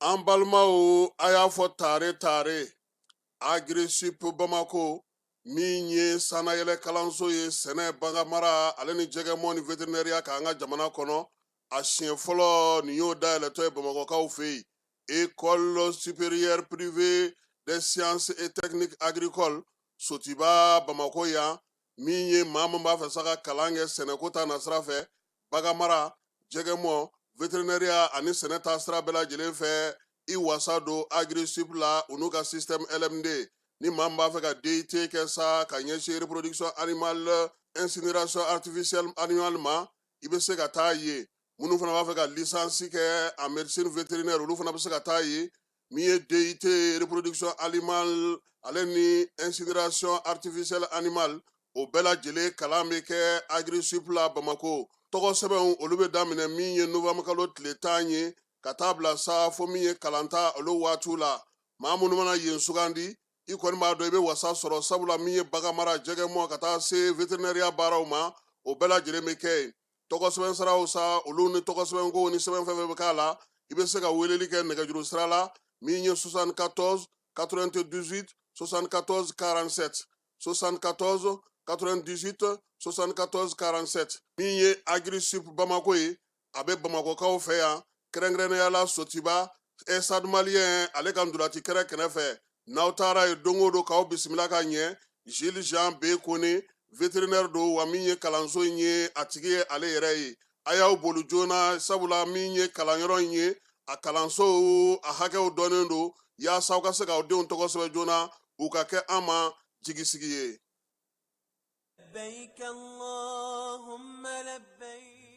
an balimaw a y'a fɔ tare tare Agri-Sup bamakɔ min ye sannayɛlɛ kalanso ye sɛnɛ baganmara ale ni jɛgɛmɔ ni veterinɛriya k'an ka jamana kɔnɔ a siɲɛ fɔlɔ nin y'o dayɛlɛtɔ ye bamakɔkaw fɛ yen Ecole supérieure privée des sciences et techniques agricoles Sotiba Bamako yan min ye maa min b'a fɛ sa ka kalan kɛ sɛnɛko ta nasira fɛ baganmara jɛgɛmɔ veterinɛriya ani sɛnɛ ta sira bɛɛ lajɛlen fɛ i wasa don Agri-Sup la u n'u ka système LMD ni maa min b'a fɛ ka DUT kɛ sa ka ɲɛsin reproduction animale incinération artificielle animale ma i bɛ se ka taa yen minnu fana b'a fɛ ka lisansi kɛ en médecine vétérinaire olu fana bɛ se ka taa yen min ye DUT reproduction animale ale ni incinération artificielle animale o bɛɛ lajɛlen kalan bɛ kɛ Agri-Sup la Bamako tɔgɔ sɛbɛnw olu bɛ daminɛ min ye novembre kalo tile tan ye ka taa bila sa fo min ye kalanta olu waatiw la maa minnu mana yen sugandi i kɔni b'a dɔn i bɛ wasa sɔrɔ sabula min ye baganmara jɛgɛmɔ ka taa se veterinɛriya baaraw ma o bɛɛ lajɛlen bɛ kɛ yen tɔgɔ sɛbɛn siraw sa olu ni tɔgɔ sɛbɛn ko ni sɛbɛn fɛn fɛn bɛ k'a la i bɛ se ka weleli kɛ nɛgɛjuru sira la min ye 74 98 74 47 74 98 74 47 min ye agri sup bamako ye a bɛ bamakɔkaw fɛ yan kɛrɛnkɛrɛnnenyala sotiba Stade Malien ale ka ntolaci kɛnɛ kɛrɛfɛ n'aw taara yen don o don k'aw bisimila ka ɲɛ Jules Jean B Koné veterinɛri don wa min ye kalanso in ye a tigi ye ale yɛrɛ ye a y'aw boli joona sabula min ye kalanyɔrɔ in ye a kalanso a hakɛw dɔnnen don yaasa aw ka se k'aw denw tɔgɔ sɛbɛn joona u ka kɛ an ma jigisigi ye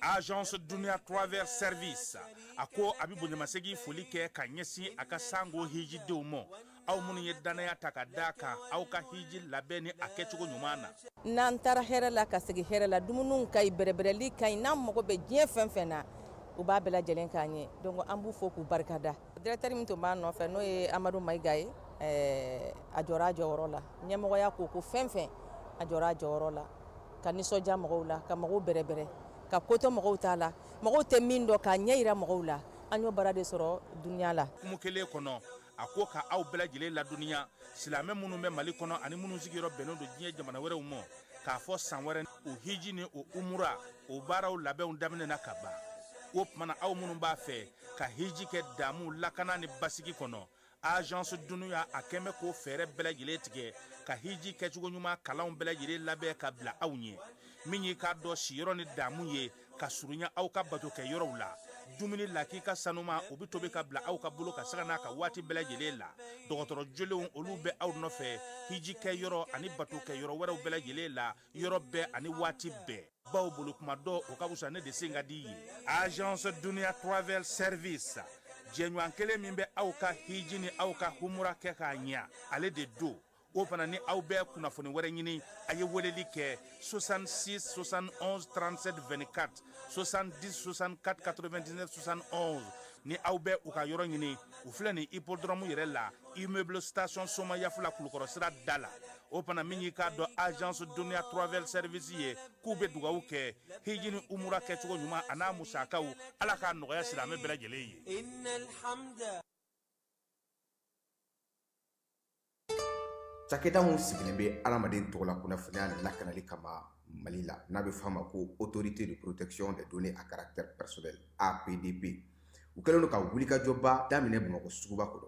agence dunia travel service a ko a bɛ bonyamasegin foli kɛ ka ɲɛsin a ka sango hijidenw ma aw minnu ye dannaya ta ka d'a kan aw ka hiji labɛn ni a kɛcogo ɲuman na n'an taara hɛrɛ la ka segin hɛrɛ la dumuniw ka ɲi bɛrɛbɛrɛli ka ɲi n'an mago bɛ diɲɛ fɛn fɛn na u b'a bɛɛ lajɛlen k'an ye donc an b'u fo k'u barikada dirɛkitɛri min tun b'a nɔfɛ n'o ye amadu Maïga ye a jɔra a jɔyɔrɔ la ɲɛmɔgɔya ko o ko fɛn fɛn a jɔra a jɔyɔrɔ la ka nisɔndiya mɔgɔw la ka mɔgɔw bɛrɛbɛrɛ ka ko to mɔgɔw ta la mɔgɔw tɛ min dɔn k'a ɲɛ jira mɔgɔw la an y'o baara de sɔrɔ dunia la kuma kelen kɔnɔ a ko k' aw bɛɛ lajɛlen ladɔnniya silamɛ minnu bɛ mali kɔnɔ ani minnu sigiyɔrɔ bɛnnen don diɲɛ jamana wɛrɛw ma k'a fɔ san wɛrɛ o hiji ni o umura o baaraw labɛnw daminɛna ka ban o tuma na aw minnu b'a fɛ ka hiji kɛ damu lakana ni basigi kɔnɔ agence duniya a kɛlen bɛ k'o fɛɛrɛ bɛɛ lajɛlen tigɛ ka hiji kɛcogo ɲuman kalanw bɛɛ lajɛlen labɛn ka bila aw ɲɛ min y'i k'a dɔn siyɔrɔ ni damu ye ka surunya aw ka bato kɛ yɔrɔw la dumuni lakika sanuman o bɛ tobi ka bila aw ka bolo kan sanga n'a ka waati bɛɛ lajɛlen la dɔgɔtɔrɔ jolenw olu bɛ aw nɔfɛ hiji kɛ yɔrɔ ani bato kɛ yɔrɔ wɛrɛw bɛɛ lajɛlen la yɔrɔ bɛɛ ani waati bɛɛ baw bolo kuma dɔ o ka wusa ne de sen ka di ye agence dunia travel service jɛɲɔgɔn kelen min bɛ aw ka hiji ni aw ka humura kɛ k'a ɲɛ ale de don o fana ni aw bɛ kunnafoni wɛrɛ ɲini a ye weleli kɛ 66 71 37 24 70 64 99 71 ni aw bɛ u ka yɔrɔ ɲini u filɛ nin hippodrome yɛrɛ la immeuble station somayaf la kulukɔrɔ sira da la o fana min y'i k'a dɔn agence duniya travel service ye k'u bɛ dugawu kɛ hiji ni umura kɛcogo ɲuman a n'a musakaw ala k'a nɔgɔya silamɛ bɛɛ lajɛlen ye cakɛda min sigilen bɛ adamaden tɔgɔla kunnafoniya lakanali kama mali la n'a bɛ f'a ma ko autorité de protection des données à caractère personnel APDP u kɛlen don ka wulikajɔba daminɛ Bamakɔ suguba kɔnɔ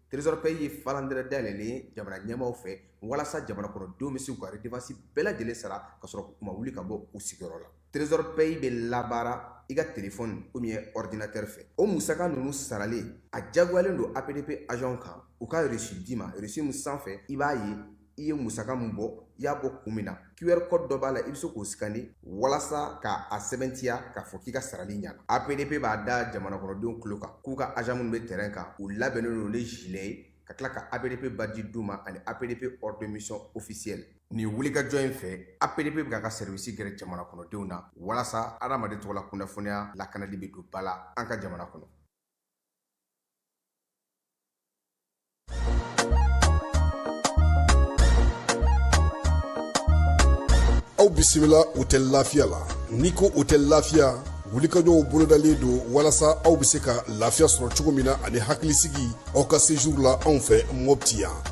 Trésor Pay ye falandɛrɛ dayɛlɛlen ye jamana ɲɛmaaw fɛ walasa jamana kɔnɔ denw bɛ se k'u ka redevance bɛɛ lajɛlen sara ka sɔrɔ u ma wuli ka bɔ u sigiyɔrɔ la. Trésor Pay bɛ labaara i ka telefɔni ou bien ordinateur fɛ. O musaka ninnu saralen, a jagoyalen don APDP agents kan u ka reçu d'i ma, reçu min sanfɛ i b'a ye i ye musaka min bɔ i y'a bɔ kun min na qr code dɔ b'a la i bɛ se k'o scanner walasa ka a sɛbɛntiya k'a fɔ k'i ka sarali ɲana apdp b'a da jamanakɔnɔdenw tulo kan k'u ka agent minnu bɛ terrain kan u labɛnnen don ni gilet ye ka tila ka apdp badge d'u ma ani apdp ordre de mission officiel nin wulikajɔ in fɛ apdp bɛ k'a ka sɛriwisi gɛrɛ jamana kɔnɔdenw na walasa adamaden tɔgɔla kunnafoniya lakanali bɛ don ba la an ka jamana kɔnɔ aw bisimila hôtel lafiya la n'i ko hôtel lafiya wulikajɔw bolodalen don walasa aw bɛ se ka lafiya sɔrɔ cogo min na ani hakilisigi aw ka séjour la anw fɛ mɔpti yan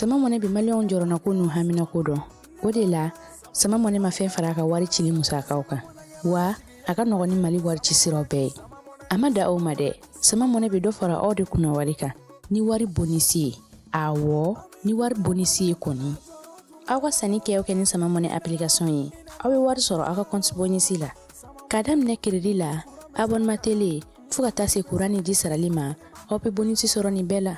sama money bi maliyɛnw jɔrɔnako n'u haminako dɔn o de la sama money ma fɛn fara a ka wari cili musakaw kan wa a ka nɔgɔn ni mali wari ci siraw bɛɛ ye a ma dan o ma dɛ sama mɔnɛ bɛ dɔ fara aw de kunna wari kan ni wari bonisi ye awɔ ni wari bonisi ye kɔni aw ka sanni kɛ aw kɛ ni sama mɔnɛ application ye aw bɛ wari sɔrɔ aw ka kɔnti bonisi la ka daminɛ keredi la abonema tele fɔɔ ka taa se kuran ni ji sarali ma aw bɛ bonisi sɔrɔ nin bɛɛ la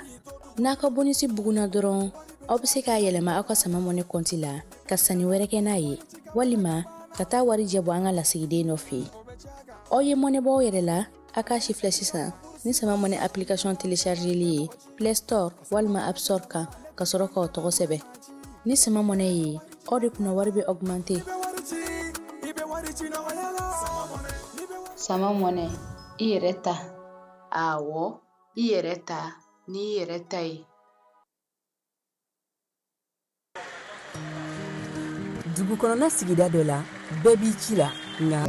n'a ka bonisi bugunna dɔrɔn aw bɛ se k'a yɛlɛma aw ka sama mɔnɛ kɔnti la ka sanni wɛrɛ kɛ n'a ye walima ka taa wari jɛ bɔ an ka lasigiden dɔ fɛ yen aw ye mɔnɛ bɔ aw yɛrɛ la a k'a sifilɛ sisan ni sama mɔnɛ application telechargeli ye play store walima app store kan ka sɔrɔ k'aw tɔgɔ sɛbɛn ni sama mɔnɛ ye aw de kunna wari bɛ augmente sama mɔnɛ i yɛrɛ ta awɔ i yɛrɛ ta n'i yɛrɛ ta ye dugu kɔnɔna sigida dɔ la bɛɛ b'i ci la nka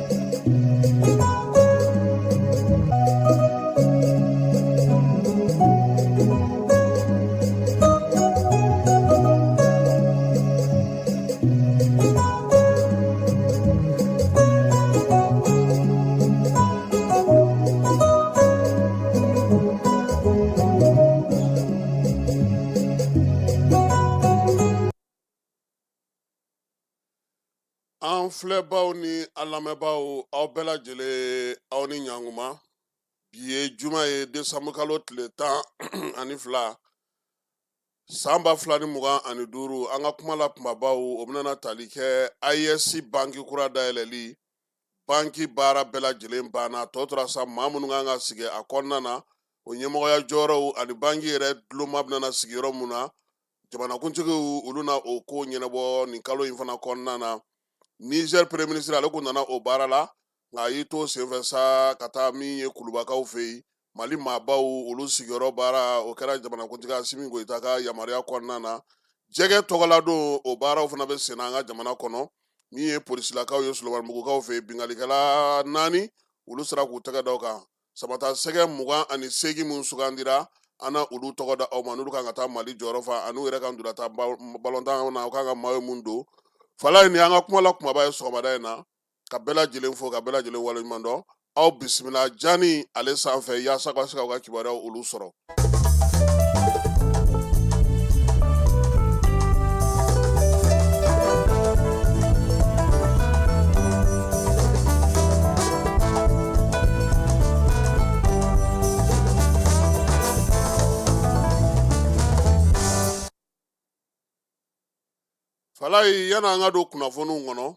An filɛbaw ni a lamɛnbaw aw bɛɛ lajɛlen aw ni ɲankuma bi ye juma ye desanburukalo tile tan ani fila San ba fila ni mugan ani duuru an ka kuma la kunbabaw o bɛna tali kɛ AES banki kura dayɛlɛli banki baara bɛɛ lajɛlen banna tɔ tora sa maa minnu kan ka sigi a kɔnɔna na o ɲɛmɔgɔya jɔyɔrɔw ani banki yɛrɛ duloma bɛna sigi yɔrɔ min na jamanakuntigiw olu na o ko ɲɛnabɔ nin kalo in fana kɔnɔna na nizɛri peremiye minisiri ale kun nana o baara la nka a y'i to senfɛ sa ka taa min ye kulubakaw fɛ yen mali maabaw olu sigiyɔrɔ baara o kɛra jamanakuntigi asimi goyita ka yamaruya kɔnɔna na jɛgɛ tɔgɔladon o baaraw fana bɛ senna an ka jamana kɔnɔ min ye polisilakaw ye solomanibugukaw fɛ binkalikɛla naani olu sera k'u tɛgɛ da u kan samatasɛgɛ mugan ani seegin min sugandira an na olu tɔgɔ da aw ma n'olu kan ka taa mali jɔyɔrɔ fa ani u yɛrɛ ka durata balontan na u kan ka mayo min don falayi nin an ka kuma la kumaba ye sɔgɔmada in na ka bɛɛ lajɛlen fo ka bɛɛ lajɛlen waleɲuman dɔn aw bisimila jani ale sanfɛ yaasa ka se k'aw ka kibaruyaw olu sɔrɔ falayi yan an ka don kunnafoniw kɔnɔ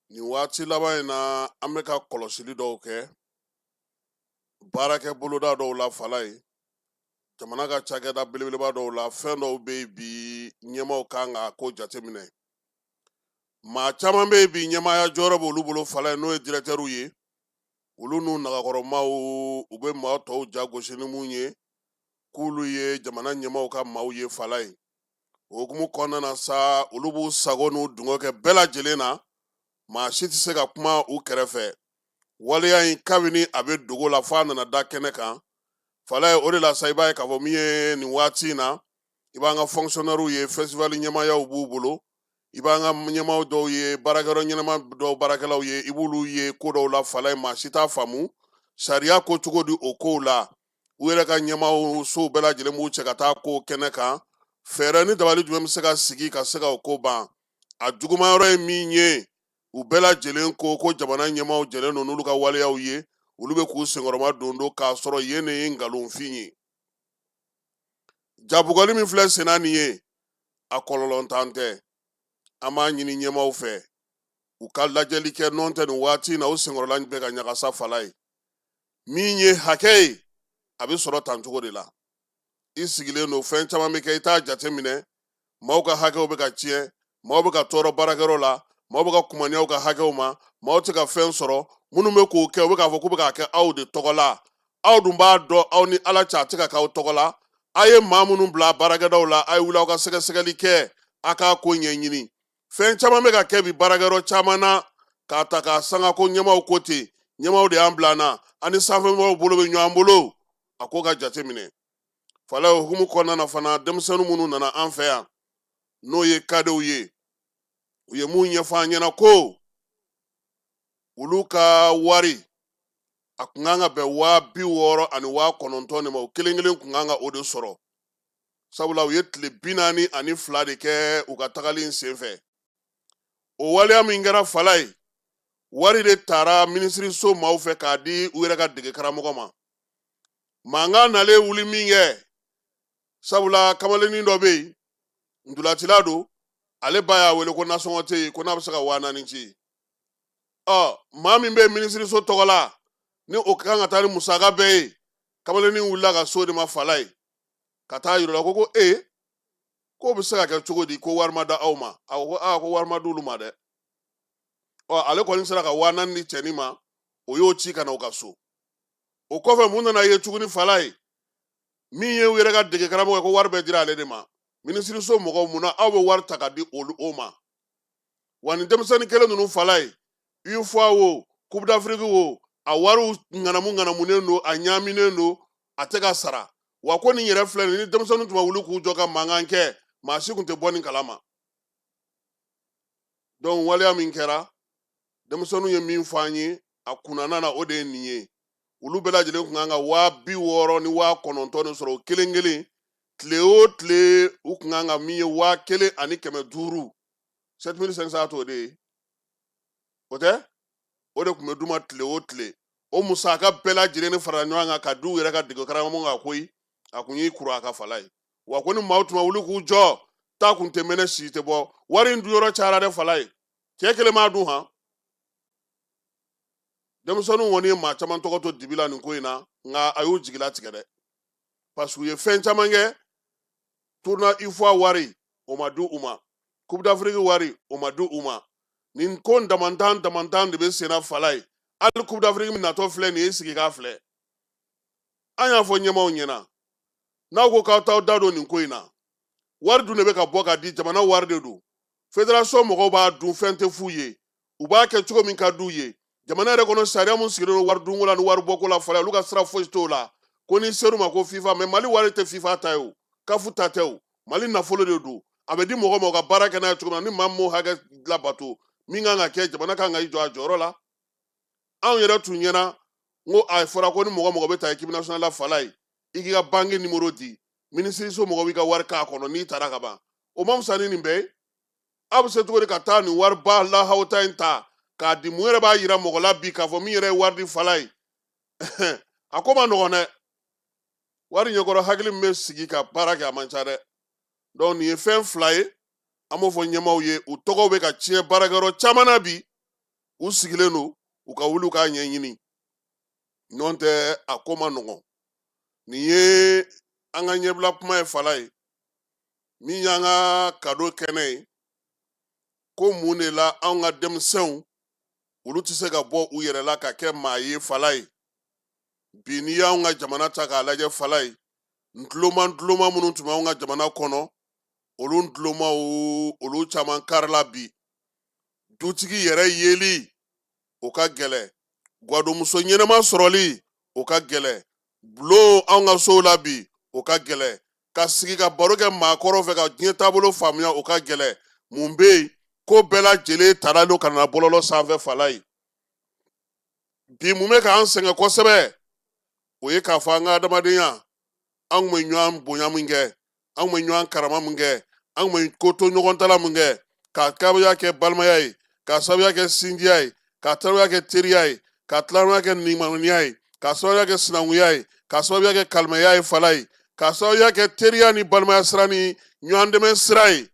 nin waati laban in na an bɛ ka kɔlɔsili dɔw kɛ baarakɛ boloda dɔw la falayi jamana ka cakɛda belebeleba dɔw la fɛn dɔw bɛ yen bi ɲɛmaaw kan ka ko jateminɛ maa caman bɛ yen bi ɲɛmaaya jɔyɔrɔ b'olu bolo falayi n'o ye dirɛtɛriw ye olu n'u nagakɔrɔmaaw u bɛ maa tɔw jagosi ni mun ye k'olu ye jamana ɲɛmaaw ka maaw ye falayi o hukumu kɔnɔna na sa olu b'u sago n'u dungɔ kɛ bɛɛ lajɛlen na maa si tɛ se ka kuma u kɛrɛfɛ waleya in kabini a bɛ dogo la f'a nana da kɛnɛ kan falayi o de la sa i b'a ye k'a fɔ min ye nin waati in na i b'an ka fɔnkisɔnɛriw ye fɛsitivali ɲɛmaayaw b'u bolo i b'an ka ɲɛmaaw dɔw ye baarakɛyɔrɔ ɲɛnama dɔw baarakɛlaw ye i b'olu ye ko dɔw la falayi maa si t'a faamu sariya ko cogo di o kow la u yɛrɛ ka ɲɛmaaw sow bɛɛ lajɛlen b'u cɛ ka taa ko kɛnɛ kan fɛɛrɛ ni dabali jumɛn bɛ se ka sigi ka se ka o ko ban a juguman yɔrɔ ye min ye u bɛɛ lajɛlen ko ko jamana ɲɛmaaw jɛlen don n'olu ka waleyaw ye olu bɛ k'u senkɔrɔma don don k'a sɔrɔ yen de ye nkalonfin ye jabugɔli min filɛ senna nin ye a kɔlɔlɔntan tɛ an b'a ɲini ɲɛmaaw fɛ u ka lajɛli kɛ nɔntɛ nin waati in na u senkɔrɔla bɛ ka ɲagasa falayi min ye hakɛ ye a bɛ sɔrɔ tan cogo de la i sigilen don fɛn caman bɛ kɛ i t'a jate minɛ maaw ka hakɛw bɛ ka tiɲɛ maaw bɛ ka tɔɔrɔ baarakɛyɔrɔ la maaw bɛ ka kumaniya u ka hakɛw ma maaw tɛ ka fɛn sɔrɔ minnu bɛ k'o kɛ u bɛ k'a fɔ k'u bɛ k'a kɛ aw de tɔgɔ la aw dun b'a dɔn aw ni ala cɛ a tɛ ka k'aw tɔgɔ la a ye maa minnu bila baarakɛdaw la a ye wuli aw ka sɛgɛsɛgɛli kɛ a k'a ko ɲɛɲini fɛn caman bɛ ka kɛ bi baarakɛyɔrɔ caman na k'a ta k'a sanga ko ɲɛmaaw ko ten ɲɛmaaw de y'an bila an na an ni sanfɛmɔgɔw bolo bɛ ɲɔgɔn bolo a ko ka jate minɛ falayi o hukumu kɔnɔna na fana denmisɛnnin minnu nana an fɛ yan n'o ye kadew ye u ye mun ɲɛfɔ an ɲɛna ko olu ka wari a kun kan ka bɛn waa bi wɔɔrɔ ani waa kɔnɔntɔn de ma o kelen kelen kun kan ka o de sɔrɔ sabula u ye tile bi naani ani fila de kɛ u ka tagali in senfɛ o waleya min kɛra falayi wari de taara minisiriso maaw fɛ k'a di u yɛrɛ ka dege karamɔgɔ ma mankan nalen wuli min kɛ sabula kamalennin dɔ bɛ yen ntolatila don ale ba y'a wele ko nasɔngɔ tɛ yen ko n'a bɛ se ka waa naani ci ɔ maa min bɛ minisiriso tɔgɔ la ni o kan ka taa ni musaka bɛɛ ye kamalennin wulila ka s'o de ma falayi ka t'a yir'u la ko ko e k'o bɛ se ka kɛ cogo di ko wari ma d'aw ma a ko aa ko wari ma d'olu ma dɛ ɔ ale kɔni sera ka waa naani di cɛnin ma o y'o ci ka na u ka so o kɔfɛ mun nana ye tuguni falayi min ye u yɛrɛ ka dege karamɔgɔ ye ko wari bɛɛ dira ale de ma minisiriso mɔgɔw mun na aw bɛ wari ta k'a di olu o ma wa nin denmisɛnnin kelen ninnu Falaye UFOA wo coupe d'Afrique wo a wariw ŋanamu ŋanamunen don a ɲaaminen don a tɛ ka sara wa ko nin yɛrɛ filɛ nin ni denmisɛnninw tun ma wuli k'u jɔ ka mankan kɛ maa si tun tɛ bɔ nin kala ma donc waleya min kɛra denmisɛnninw ye min fɔ an ye a kunnana na o de ye nin ye olu bɛɛ lajɛlen kun kan ka waa bi wɔɔrɔ ni waa kɔnɔntɔn de sɔrɔ o kelen kelen tile o tile u kun kan ka min ye waa kelen ani kɛmɛ duuru 7500 t'o de ye o tɛ o de kun bɛ d'u ma tile o tile o musaka bɛɛ lajɛlen ni farala ɲɔgɔn kan ka di u yɛrɛ ka degekaramɔgɔ ma koyi a kun y'i kuru a kan Falaye wa ko ni maaw tun ma wuli k'u jɔ ta kun tɛ mɛnɛ sisi tɛ bɔ wari in dunyɔrɔ cayara dɛ Falaye cɛ kelen m'a dun han denmisɛnninw kɔni ye maa caman tɔgɔ to dibi la nin ko in na nka a y'u jigilatigɛ dɛ parce que u ye fɛn caman kɛ tournoi UFOA wari o ma di u ma coupe d'Afrique wari o ma di u ma nin ko damantan damantan de bɛ senna Falaye hali coupe d'Afrique min natɔ filɛ nin ye sigi k'a filɛ an y'a fɔ ɲɛmaaw ɲɛna n'aw ko k'aw t'aw da don nin ko in na wari dun de bɛ ka bɔ ka di jamana wari de don fédération mɔgɔw b'a dun fɛn tɛ f'u ye u b'a kɛ cogo min ka d'u ye jamana yɛrɛ kɔnɔ sariya min sigilen don wari dunko la ni wari bɔko la Falaye olu ka sira fosi t'o la ko n'i ser'u ma ko fifa mais mali wari tɛ fifa ta ye o CAF ta tɛ o mali nafolo de don a bɛ di mɔgɔ ma u ka baara kɛ n'a ye cogo min na ni maa m'o hakɛ labato min kan ka kɛ jamana kan ka i jɔ a jɔyɔrɔ la anw yɛrɛ tun ɲɛna ko a fɔra ko ni mɔgɔ mɔgɔ bɛ taa équipe nationale la Falaye i k'i ka banki nimoro di minisiriso mɔgɔw b'i ka wari k'a kɔnɔ n'i taara ka ban o man fisa ni nin bɛɛ ye aw bɛ se cogo di ka taa nin wariba lahawuta in ta k'a di mun yɛrɛ b'a yira mɔgɔ la bi k'a fɔ min yɛrɛ ye wari di Falaye a ko man nɔgɔn dɛ wari ɲɛkɔrɔ hakili min bɛ sigi ka baara kɛ a man ca dɛ donc nin ye fɛn fila ye an b'o fɔ ɲɛmaaw ye u tɔgɔw bɛ ka tiɲɛ baarakɛyɔrɔ caman na bi u sigilen don u ka wuli u k'a ɲɛɲini nɔntɛ a ko man nɔgɔn nin ye an ka ɲɛbila kuma ye Falaye min y'an ka kado kɛnɛ ye ko mun de la anw ka denmisɛnw olu tɛ se ka bɔ u yɛrɛ la ka kɛ maa ye Falaye bi n'i y'anw ka jamana ta k'a lajɛ Falaye ntuloma ntuloma minnu tun b'anw ka jamana kɔnɔ olu ntulomaw olu caman karila bi dutigi yɛrɛ yeli o ka gɛlɛ gwadomuso ɲɛnama sɔrɔli o ka gɛlɛ bulon anw ka sow la bi o ka gɛlɛ ka sigi ka baro kɛ maakɔrɔw fɛ ka diɲɛ taabolo faamuya o ka gɛlɛ mun bɛ yen ko bɛɛ lajɛlen tara de ka na bɔlɔlɔ sanfɛ Falaye bi mun bɛ k'an sɛgɛn kosɛbɛ o ye k'a fɔ an ka adamadenya an kun bɛ ɲɔgɔn bonya min kɛ an kun bɛ ɲɔgɔn karama min kɛ an kun bɛ ko to ɲɔgɔn ta la min kɛ k'a sabuya kɛ balimaya ye k'a sabuya kɛ sinjiya ye k'a sabuya kɛ teriya ye k'a sabuya kɛ nimaniya ye k'a sabuya kɛ sinankunya ye k'a sabuya kɛ kalimaya ye falayi k'a sabuya kɛ teriya ni balimaya sira ni ɲɔgɔn dɛmɛ sira ye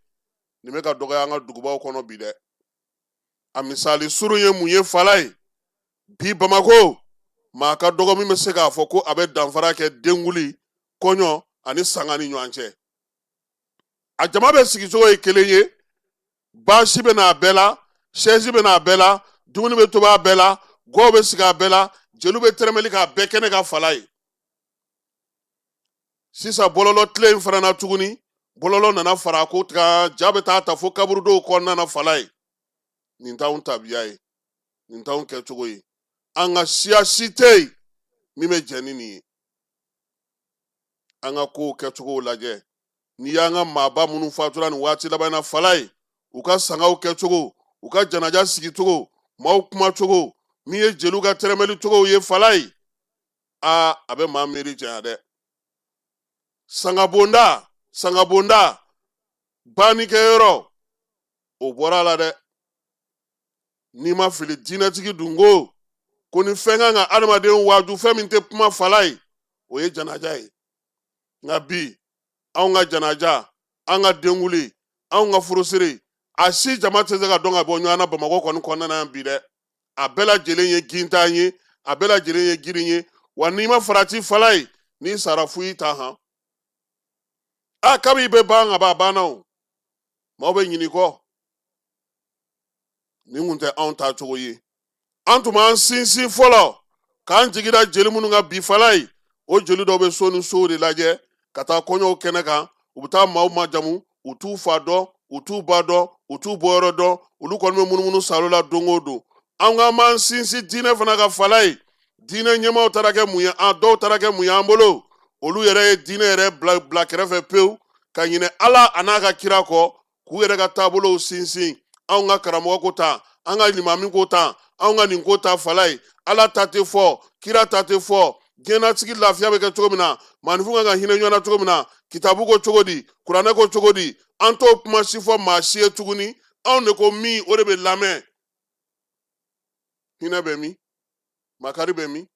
nin bɛ ka dɔgɔya an ka dugubaw kɔnɔ bi dɛ a misali surun ye mun ye falayi bi bamako maa ka dɔgɔ min bɛ se k'a fɔ ko a bɛ danfara kɛ denguli kɔɲɔ ani sanga ni ɲɔgɔn cɛ a jama bɛɛ sigicogo ye kelen ye baasi bɛ n'a bɛɛ la sɛzi bɛ n'a bɛɛ la dumuni bɛ tobi a bɛɛ la gwaw bɛ sigi a bɛɛ la jeliw bɛ tɛrɛmɛli k'a bɛɛ kɛnɛ kan falayi sisan bɔlɔlɔ tile in fana na tuguni bɔlɔlɔ nana fara ko kan ja bɛ taa ta fo kaburudow kɔnɔna na falayi nin t'anw tabiya ye nin t'anw kɛcogo ye an ka siya si tɛ yen min bɛ jɛn ni nin ye an ka kow kɛcogow lajɛ n'i y'an ka maaba minnu fatura nin waati laban na falayi u ka sangaw kɛcogo u ka janaja sigicogo maaw kumacogo min ye jeliw ka tɛrɛmɛli cogow ye falayi aa a bɛ maa miiri janya dɛ sangabonda sangabonda bannikɛyɔrɔ o bɔra a la dɛ n'i ma fili diinɛtigi dun ko ko ni fɛn kan ka adamaden waaju fɛn min tɛ kuma falayi o ye janaja ye nka bi anw ka janaja an ka denkuli anw ka furusiri a si jama tɛ se ka dɔn ka bɔ ɲɔgɔn na bamakɔ kɔni kɔnɔna yan bi dɛ a bɛɛ lajɛlen ye gintan ye a bɛɛ lajɛlen ye girin ye wa n'i ma farati falayi n'i sara fu y'i ta han a kab'i bɛ ban ka ban a banna o maaw bɛ ɲin'i kɔ nin kun tɛ anw taacogo ye an tun b'an sinsin fɔlɔ k'an jigi da jeli minnu kan bi falayi o jeli dɔw bɛ so ni sow de lajɛ ka taa kɔɲɔw kɛnɛ kan u bɛ taa maaw majamu u t'u fa dɔn u t'u ba dɔn u t'u bɔyɔrɔ dɔn olu kɔni bɛ munumunu salo la don o don an k'an b'an sinsin diinɛ fana kan falayi diinɛ ɲɛmaaw taara kɛ mun ye an dɔw taara kɛ mun ye an bolo olu yɛrɛ ye diinɛ yɛrɛ bila kɛrɛfɛ pewu ka ɲinɛ ala an'a ka kira kɔ k'u yɛrɛ ka taabolow sinsin anw ka karamɔgɔ ko tan an ka limami ko tan anw ka nin ko tan falayi ala ta tɛ fɔ kira ta tɛ fɔ diɲɛnatigɛ lafiya bɛ kɛ cogo min na maaninfinw kan ka hinɛ ɲɔgɔn na cogo min na kitabu ko cogo di kuranɛ ko cogo di an t'o kuma si fɔ maa si ye tuguni anw de ko min o de bɛ lamɛn hinɛ bɛ min makari bɛ min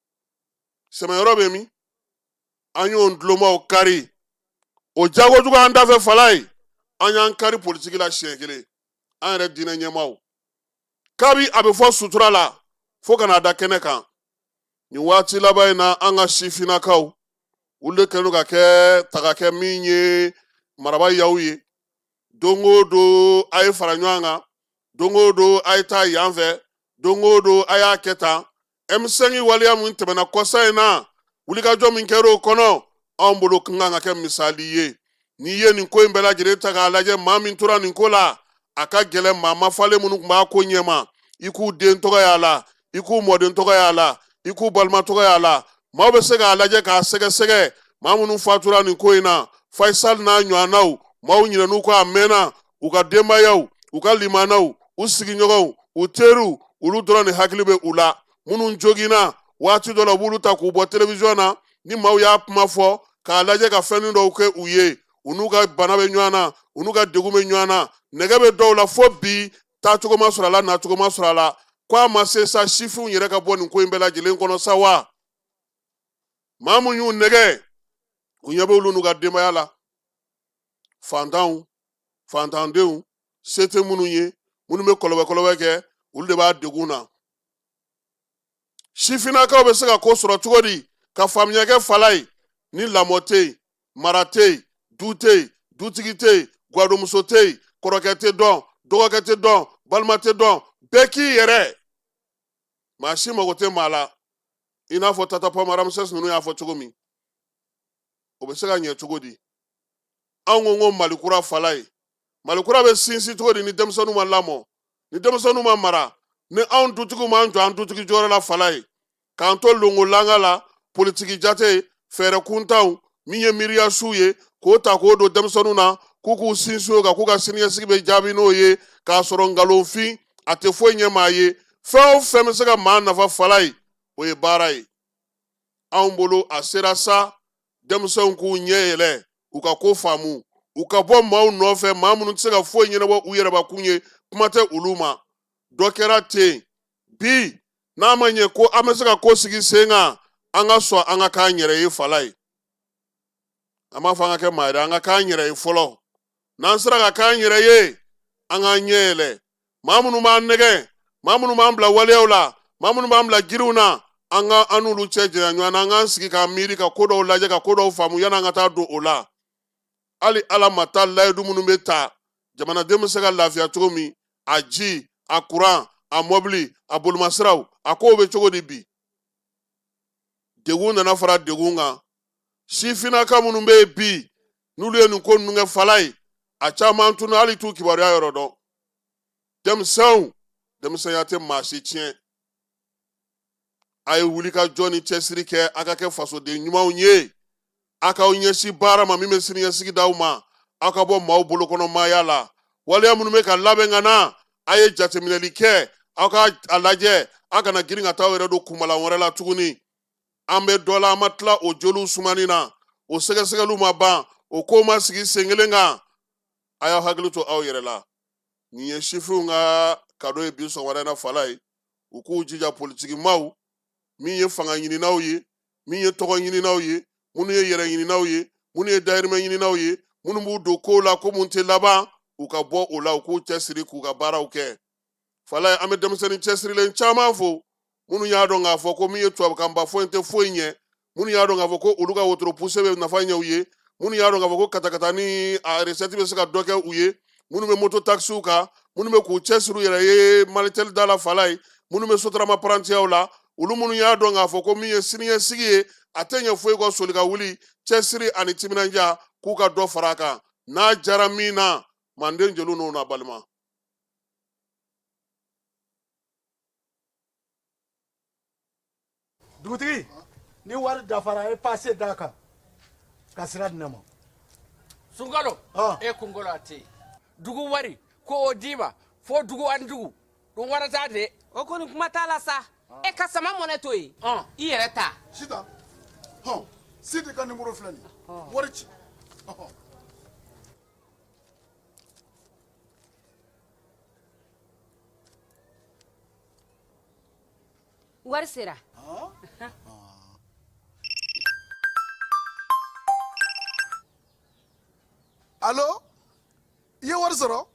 sɛmɛyɔrɔ bɛ min an y'o dulonmaw kari o jago jugu an dafɛ falayi an y'an kari politiki la siɲɛ kelen an yɛrɛ diinɛ ɲɛmaaw kabi a bɛ fɔ sutura la fo ka n'a da kɛnɛ kan nin waati laban in na an ka sifinnakaw olu de kɛlen ka kɛ tagakɛ min ye maraba yaw ye don o don a ye fara ɲɔgɔn kan don o don a ye taa yan fɛ don o don a y'a kɛ tan emisɛnki waleya min tɛmɛna kɔsa in na wulikajɔ min kɛra o kɔnɔ anw bolo ka kan ka kɛ misali ye n'i ye nin ko in bɛɛ lajɛlen ta k'a lajɛ maa min tora nin ko la a ka gɛlɛn maa maa falen minnu tun b'a ko ɲɛma i k'u den tɔgɔ y'a la i k'u mɔden tɔgɔ y'a la i k'u balima tɔgɔ y'a la maaw bɛ se k'a lajɛ k'a sɛgɛsɛgɛ maa minnu fatura nin ko in na faisal n'a ɲɔgɔnnaw maaw ɲinɛn'u kɔ a mɛnna u ka denbayaw u ka limanaw u sigiɲɔgɔnw u teriw olu dɔrɔn de hakili bɛ u la minnu joginna waati dɔ la u b'olu ta k'u bɔ televiziyɔn na ni maaw y'a kuma fɔ k'a lajɛ ka fɛnnin dɔw kɛ u ye u n'u ka bana bɛ ɲɔgɔn na u n'u ka degun bɛ ɲɔgɔn na nɛgɛ bɛ dɔw la fo bi taacogo ma sɔrɔ a la nacogo ma sɔrɔ a la ko a ma se sa sifinw yɛrɛ ka bɔ nin ko in bɛɛ lajɛlen kɔnɔ sa wa maa min y'u nɛgɛ u ɲɛ bɛ olu n'u ka denbaya la fantanw fantandenw se tɛ minnu ye minnu bɛ kɔlɔbɛ kɔlɔbɛ kɛ olu de b'a degun na sifinnakaw bɛ se ka ko sɔrɔ cogo di ka faamuya kɛ falayi ni lamɔ tɛ yen mara tɛ yen du tɛ yen dutigi tɛ yen gwadonmuso tɛ yen kɔrɔkɛ tɛ dɔn dɔgɔkɛ tɛ dɔn balima tɛ dɔn bɛɛ k'i yɛrɛ maa si mago tɛ maa la i n'a fɔ tata pound ramsès ninnu y'a fɔ cogo min o bɛ se ka ɲɛ cogo di an ko ko mali kura falayi mali kura bɛ sinsin cogo di ni denmisɛnninw ma lamɔ ni denmisɛnninw ma mara ni anw dutigiw m'an jɔ an dutigi jɔyɔrɔ la falayi k'an to longolanga la politiki jate fɛɛrɛ kuntanw min ye miiriya suw ye k'o ta k'o don denmisɛnninw na k'u k'u sinsin o kan k'u ka siniɲɛsigi bɛ jaabi n'o ye k'a sɔrɔ nkalonfin a tɛ foyi ɲɛ maa ye fɛn o fɛn bɛ se ka maa nafa falayi o ye baara ye anw bolo a sera sa denmisɛnw k'u ɲɛ yɛlɛ u ka ko faamu u ka bɔ maaw nɔfɛ maa minnu tɛ se ka foyi ɲɛnabɔ u yɛrɛbakun ye kuma tɛ olu ma dɔ kɛra ten bi n'a ma ɲɛ ko an bɛ se ka ko sigi sen kan an ka sɔn an ka k'an yɛrɛ ye falayi an m'a fɔ an ka kɛ maa ye an ka k'an yɛrɛ ye fɔlɔ n'an sera ka k'an yɛrɛ ye an k'an ɲɛ yɛlɛ maa minnu b'an nɛgɛ maa minnu b'an bila waleyaw la maa minnu b'an bila jiriw na an ka an n'olu cɛ janya ɲɔgɔn na an k'an sigi k'an miiri ka ko dɔw lajɛ ka ko dɔw faamu yan'an ka taa don o la hali ala ma taa layidu minnu bɛ ta jamanaden bɛ se ka lafiya cogo min a ji a kuran a mɔbili a bolimasiraw a kow bɛ cogo di bi degun nana fara degun kan sifinnaka minnu bɛ yen bi n'olu ye nin ko ninnu kɛ falayi a caman tunun hali t'u kibaruya yɔrɔ dɔn denmisɛnw denmisɛnya tɛ maa si tiɲɛ a ye wuli ka jɔ ni cɛsiri kɛ a ka kɛ fasoden ɲumanw ye a k'aw ɲɛsin baara ma min bɛ siniɲɛsigi d'aw ma aw ka bɔ maaw bolokɔnɔmaaya la waleya minnu bɛ ka labɛn ka na a ye jateminɛli kɛ aw ka a lajɛ aw kana girin ka taa aw yɛrɛ don kunbalan wɛrɛ la tuguni an bɛ dɔ la an ma tila o joliw sumani na o sɛgɛsɛgɛliw ma ban o ko ma sigi sen kelen kan a y'aw hakili to aw yɛrɛ la nin ye sifinw ka kado ye bi sɔgɔmada in na falayi u k'u jija politiki maaw min ye fanga ɲininaw ye min ye tɔgɔ ɲininaw ye minnu ye yɛrɛ ɲininaw ye minnu ye dayirimɛ ɲininaw ye minnu b'u don kow la ko mun tɛ laban u ka bɔ o la u k'u cɛsiri k'u ka baaraw kɛ falayi an bɛ denmisɛnnin cɛsirilen caman fo minnu y'a dɔn k'a fɔ ko min ye tubabukanba fɔ in tɛ foyi ɲɛ minnu y'a dɔn k'a fɔ ko olu ka wotoro puse bɛ nafa ɲɛ u ye minnu y'a dɔn k'a fɔ ko katakata ni a resɛti bɛ se ka dɔ kɛ u ye minnu bɛ moto takisiw kan minnu bɛ k'u cɛsiri u yɛrɛ ye malitɛli da la falayi minnu bɛ sotarama parantiyaw la olu minnu y'a dɔn k'a fɔ ko min ye siniɲɛsigi ye a tɛ ɲɛ foyi kɔ soli ka wuli cɛsiri ani timinanja k'u ka dɔ fara a kan n'a jara min na manden jeliw n'o na balima dugutigi ni wari dafara a ye pase d'a kan ka sira di ne ma sunkalo e kunkolo a tɛ yen dugu wari ko o d'i ma fo dugu ani dugu don wɛrɛ t'a de o kɔni kuma t'a la sa e ka sama mɔnɛ to yen i yɛrɛ ta sita hɔn sidi ka nimoro filɛ nin wari ci wari sera alo i ye wari sɔrɔ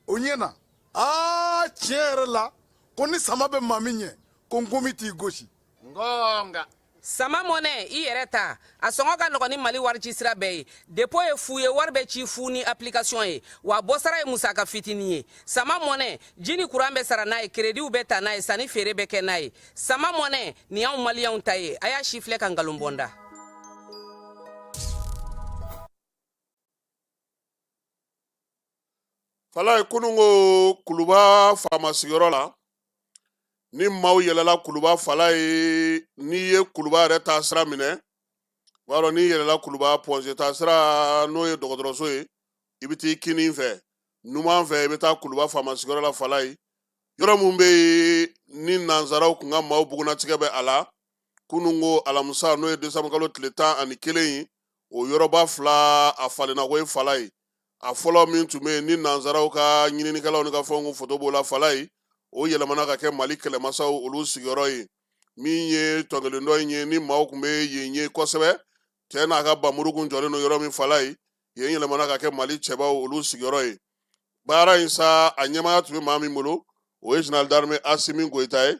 o ɲɛna aa tiɲɛ yɛrɛ la ko ni sama bɛ maa min ɲɛ ko nkomi t'i gosi nka sama mɔnɛ i yɛrɛ ta a sɔngɔ ka nɔgɔn ni mali warici sira bɛɛ ye depo ye fu ye wari bɛ ci fu ni application ye wa bɔsara ye musaka fitini ye sama mɔnɛ ji ni kuran bɛ sara n'a ye kerediw bɛ ta n'a ye sanni feere bɛ kɛ n'a ye sama mɔnɛ nin y'anw maliyɛnw ta ye a y'a sifilɛ ka nkalon bɔ n da falaye kunun ko kuluba faama sigiyɔrɔ la ni maaw yɛlɛla kuluba falaye n'i ye kuluba yɛrɛ taa sira minɛ b'a dɔn n'i yɛlɛla kuluba pɔnze taa sira n'o ye dɔgɔtɔrɔso ye i bɛ t'i kinin fɛ numan fɛ i bɛ taa kuluba faama sigiyɔrɔ la falaye yɔrɔ min bɛ yen ni nanzaraw tun ka maaw bugunnatigɛ bɛ a la kunun ko alamisa n'o ye desanburukalo tile tan ani kelen ye o yɔrɔba fila a falenna ko ye falaye a fɔlɔ min tun bɛ yen ni nanzaraw ka ɲininikɛlaw ni ka fɛnw foto b'o la falaye o yɛlɛmana ka kɛ mali kɛlɛmasaw olu sigiyɔrɔ ye min ye tɔnkelen dɔ in ye ni maaw tun bɛ yen ye kosɛbɛ cɛ n'a ka bamuru kun jɔlen don yɔrɔ min falaye yen yɛlɛmana ka kɛ mali cɛbaw olu sigiyɔrɔ ye baara in sa a ɲɛmaya tun bɛ maa min bolo o ye zenerali darime asimi goyita ye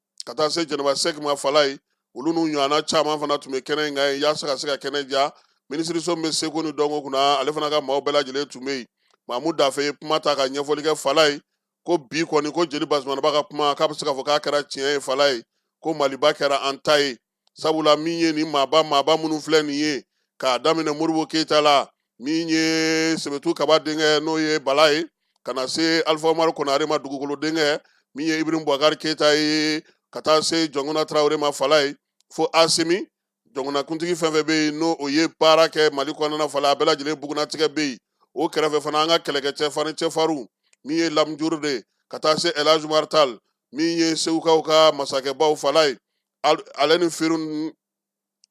ka taa se jɛnɛba sɛki ma falaye olu n'u ɲɔgɔnna caman fana tun bɛ kɛnɛ in kan yen yaasa ka se ka kɛnɛ diya minisiriso min bɛ seko ni dɔnko kunna ale fana ka maaw bɛɛ lajɛlen tun bɛ yen mamu dafe ye kuma ta ka ɲɛfɔli kɛ falaye ko bi kɔni ko jeli basumanaba ka kuma k'a bɛ se k'a fɔ k'a kɛra tiɲɛ ye falaye ko maliba kɛra an ta ye sabula min ye nin maaba maaba minnu filɛ nin ye k'a daminɛ modibo keyita la min ye sebetu kaba denkɛ n'o ye bala ye ka na se alifa umaru konare ma dugukolo denkɛ min ye ibrahim bubakari keyita ye ka taa se jɔnkuna tarawele ma falaye fo asimi jɔnkunakuntigi fɛn fɛn bɛ yen n'o o ye baara kɛ mali kɔnɔna falaye a bɛɛ lajɛlen bugunnatigɛ bɛ yen o kɛrɛfɛ fana an ka kɛlɛkɛcɛ farin cɛfarinw min ye lamujurube ka taa se elhaj umaru tali min ye segukaw ka masakɛbaw falaye ale ni firun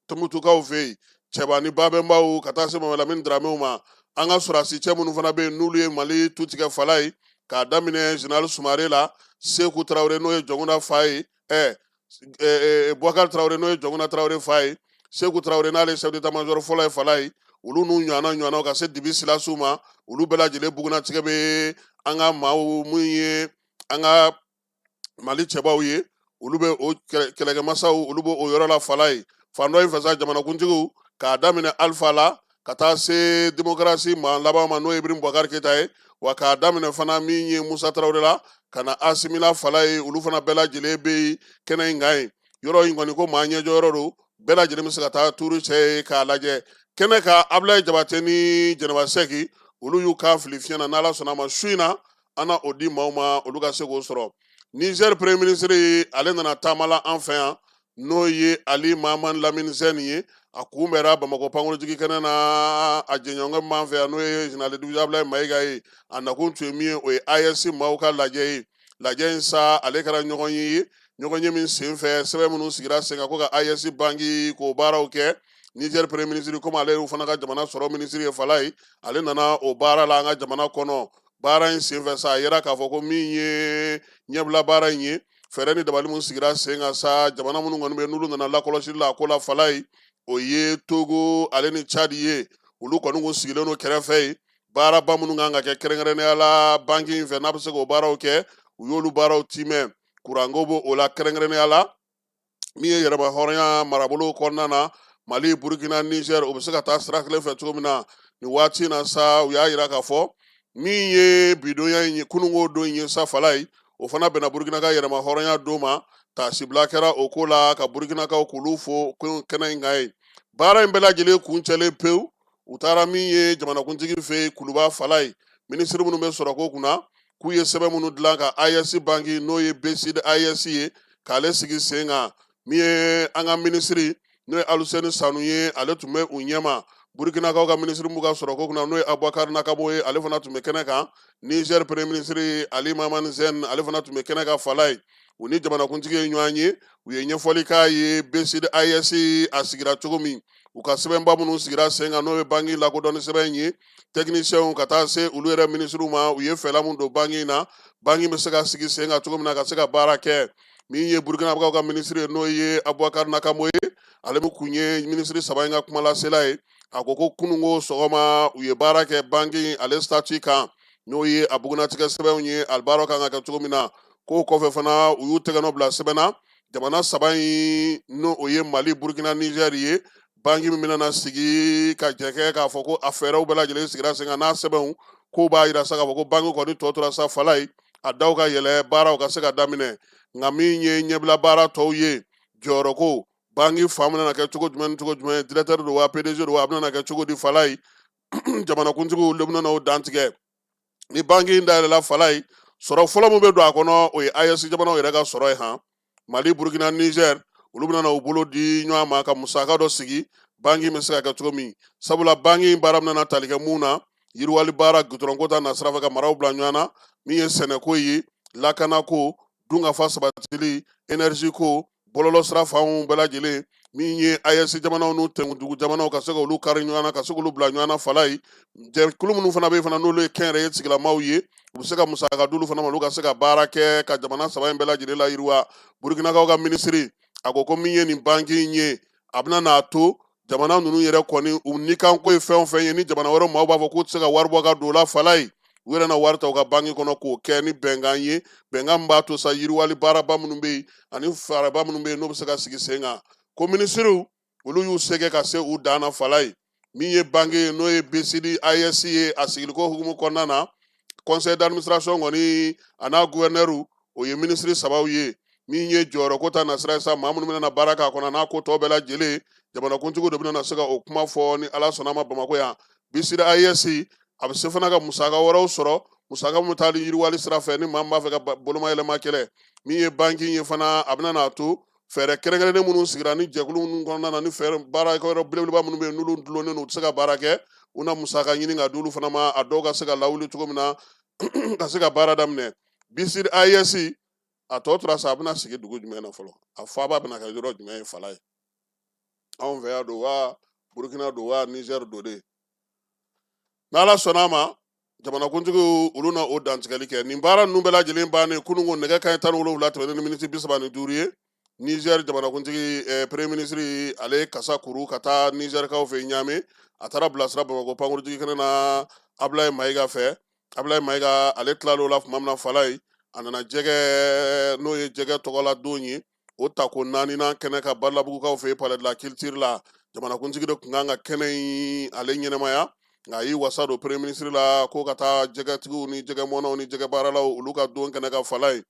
tumutukaw fɛ yen cɛba ni babɛnbaw ka taa se mamadu lamini daramew ma an ka sɔrɔdasi cɛ minnu fana bɛ yen n'olu ye mali tu tigɛ falaye k'a daminɛ zenerali sumare la seku tarawele n'o ye jɔnkuna fa ye ɛ bubakari tarawele n'o ye jɔnkuna tarawele fa ye seku tarawele n'ale sɛfu detamazɔri fɔlɔ ye falaye olu n'u ɲɔgɔnna ɲɔgɔnnaw ka se dibi silasiw ma olu bɛɛ lajɛlen bugunnatigɛ bɛ an ka maaw min ye an ka mali cɛbaw ye olu bɛ o kɛlɛkɛmasaw olu bɛ o yɔrɔ la falaye fan dɔ in fɛ sa jamanakuntigiw k'a daminɛ alifa la ka taa se demokarasi maa laban ma n'o ye ibrahim bubakari keyita ye wa k'a daminɛ fana min ye musa tarawele la ka na asimi la falaye olu fana bɛɛ lajɛlen bɛ yen kɛnɛ in kan ye yɔrɔ in kɔni ko maa ɲɛjɔyɔrɔ don bɛɛ lajɛlen bɛ se ka taa tuuru cɛ yen k'a lajɛ kɛnɛ ka abulayi jabate ni jɛnɛba sɛki olu y'u kan fili fiɲɛ na n'ala sɔnna a ma su in na an o di maaw ma olu ka se k'o sɔrɔ nizɛri premier minisiri ale nana taama la an fɛ yan n'o ye ali maama lamini zɛn ye a kunbɛra bamakɔ pankurunjigi kɛnɛ na a jɛɲɔgɔn min b'an fɛ yan n'o ye général de division abilaye mayiga ye a nakun tun ye min ye o ye ayɛsi maaw ka lajɛ ye lajɛ in sa ale kɛra ɲɔgɔn ye ɲɔgɔn ye min sen fɛ sɛbɛn minnu sigira sen kan ko ka ayɛsi banki k'o baaraw kɛ nizɛri premier minisiri komi ale y'u fana ka jamana sɔrɔ minisiri ye fala ye ale nana o baara la an ka jamana kɔnɔ baara in senfɛ sa a yira k'a fɔ ko min ye ɲɛbila baara in ye fɛɛrɛ ni dabali min sigira sen kan sa jamana minnu kɔni bɛ n'olu nana lakɔlɔsili la a ko la fala ye o ye togo ale ni cadi ye olu kɔni kun sigilen don kɛrɛfɛ yen baaraba minnu kan ka kɛ kɛrɛnkɛrɛnnenya la banki in fɛ n'a bɛ se k'o baaraw kɛ u y'olu baaraw tiimɛ kuranko b'o o la kɛrɛnkɛrɛnnenya la min ye yɛrɛma hɔrɔnya marabolo kɔnɔna na mali burukina nizɛr o bɛ se ka taa sira kelen fɛ cogo min na nin waati in na sa u y'a yira k'a fɔ min ye bidonya in ye kununko don in ye sa fala ye o fana bɛnna burukina ka yɛrɛma hɔrɔnya don ma taasibila kɛra o ko la ka burukinakaw k'olu fo kɛnɛ in kan yen baara in bɛɛ lajɛlen kuncɛlen pewu u taara min ye jamanakuntigi fɛ yen kuluba fala ye minisiri minnu bɛ sɔrɔko kunna k'u ye sɛbɛn minnu dilan ka AES banki n'o ye BCID AES ye k'ale sigi sen kan min ye an ka minisiri n'o ye Aluseni Sanu ye ale tun bɛ u ɲɛma Burkinakaw ka minisiri min b'u ka sɔrɔko kunna n'o ye Abubakari Nakanabo ye ale fana tun bɛ kɛnɛ kan Niger premier minisiri Ali Mahaman Zen ale fana tun bɛ kɛnɛ kan fala ye u ni jamanakuntigi ye ɲɔgɔn ye u ye ɲɛfɔli k'a ye BCID AES a sigira cogo min u ka sɛbɛnba minnu sigira sen kan n'o ye banki lakodɔnni sɛbɛn in ye tɛkinisiyɛnw ka taa se olu yɛrɛ minisiriw ma u ye fɛla min don banki in na banki bɛ se ka sigi sen kan cogo min na ka se ka baara kɛ min ye burukinabɛkaw ka minisiri ye n'o ye abubakar nakanabo ye ale min kun ye minisiri saba in ka kumalasela ye a ko ko kununko sɔgɔma u ye baara kɛ banki in ale statut kan n'o ye a bugunnatigɛ sɛbɛnw ye ale baara kan ka kɛ cogo min na k'o kɔfɛ fana u y'u tɛgɛnɔ bila sɛbɛn na jamana saba in n'o ye mali burukina nizɛri ye banki min bɛna sigi ka jɛkɛ k'a fɔ ko a fɛɛrɛw bɛɛ lajɛlen sigira sen kan n'a sɛbɛnw k'o b'a yira sa k'a fɔ ko banki kɔni tɔ tora sa fala ye a daw ka yɛlɛ baaraw ka se ka daminɛ nka min ye ɲɛbila baara tɔw ye jɔyɔrɔko banki fan bɛna kɛ cogo jumɛn ni cogo jumɛn dirɛtɛri don wa pdg don wa a bɛna kɛ cogo di fala ye jamanakuntigiw le bɛna o dantigɛ ni banki in dayɛlɛla fala ye sɔrɔ fɔlɔ min bɛ don a kɔnɔ o ye ayɛsi jamanaw yɛrɛ ka sɔrɔ ye han mali burukina nizɛr olu bɛna u bolo di ɲɔgɔn ma ka musaka dɔ sigi banki bɛ se ka kɛ cogo min sabula banki in baara bɛna tali kɛ mun na yiriwali baara gudɔrɔnko ta nasira fɛ ka maraw bila ɲɔgɔn na min ye sɛnɛko ye lakanako dunkafa sabatili énergie ko bɔlɔlɔ sira fanw bɛɛ lajɛlen min ye AES jamanaw n'u tɛnkuntugu jamanaw ka se ka olu kari ɲɔgɔn na ka se k'olu bila ɲɔgɔn na fala ye jɛkulu minnu fana bɛ yen fana n'olu ye kɛnyɛrɛye sigilamaw ye u bɛ se ka musaka d'olu fana ma olu ka se ka baara kɛ ka jamana saba in bɛɛ lajɛlen layiriwa Burukinakaw ka minisiri a ko ko min ye nin banki in ye a bɛna n'a to jamana ninnu yɛrɛ kɔni u nikanko ye fɛn o fɛn ye ni jamana wɛrɛ maaw b'a fɔ k'u tɛ se ka wari bɔ ka don o la fala ye u yɛrɛ na wari ta u ka banki kɔnɔ k'o kɛ ni bɛnkan ye bɛnkan min b'a to sa yiriwali baaraba minnu bɛ yen ani faraba minnu bɛ yen n'o bɛ se ka sigi sen kan ko minisiriw olu y'u se kɛ ka se u dan na fala ye min ye banki ye n'o ye BCID AES ye a sigiliko hukumu kɔnɔna na conseil d'administration kɔni a n'a gouverneur o ye minisiri sabaw ye min ye jɔyɔrɔ ko ta nasira sa maa minnu bɛna baara k'a kɔnɔ n'a ko tɔ bɛɛ lajɛlen jamanakuntigi de bɛna se ka o kuma fɔ ni ala sɔnna ma bamakɔ yan BCID AES a bɛ se fana ka musaka wɛrɛw sɔrɔ musaka min bɛ taali yiriwali sira fɛ ni maa min b'a fɛ ka bolomayɛlɛma kɛlɛ min ye banki ye fana a bɛna n'a to fɛɛrɛ kɛrɛnkɛrɛnnen minnu sigira ni jɛkulu minnu kɔnɔna na ni fɛɛrɛ baarakɛ yɔrɔ belebeleba minnu bɛ yen n'olu dulonnen don u tɛ se ka baara kɛ u na musaka ɲini ka d'olu fana ma a dɔw ka se ka lawuli cogo min na ka se ka baara daminɛ BCID AES a tɔ tora sa a bɛna sigi dugu jumɛn na fɔlɔ a faaba bɛna kɛ yɔrɔ jumɛn ye fala ye anw fɛ yan don wa Burkina don wa Niger don de n'ala sɔnna a ma jamanakuntigiw olu na o dantigɛli kɛ nin baara ninnu bɛɛ lajɛlen bannen kunun ko nɛgɛ kanɲɛ tan ni wolonfila tɛmɛnen ni miniti bisaba ni duuru ye Niger jamanakuntigi eh, premier ministre ale kasa kuru ka taa Nigerkaw fɛ Niamey a taara bilasira bamakɔ pankurunjigin kɛnɛ na Ablaye Mayiga fɛ Ablaye Mayiga ale tilala o la tuma min na fala ye a nana jɛgɛ n'o ye jɛgɛ tɔgɔla don ye o tako naaninan kɛnɛ ka Badalabugukaw fɛ palais de la culture la jamanakuntigi de tun kan ka kɛnɛ in ale ɲɛnamaya nka a y'i wasa don premier ministre la ko ka taa jɛgɛtigiw ni jɛgɛmɔnaw ni jɛgɛbaaralaw olu ka don kɛnɛ ka fala ye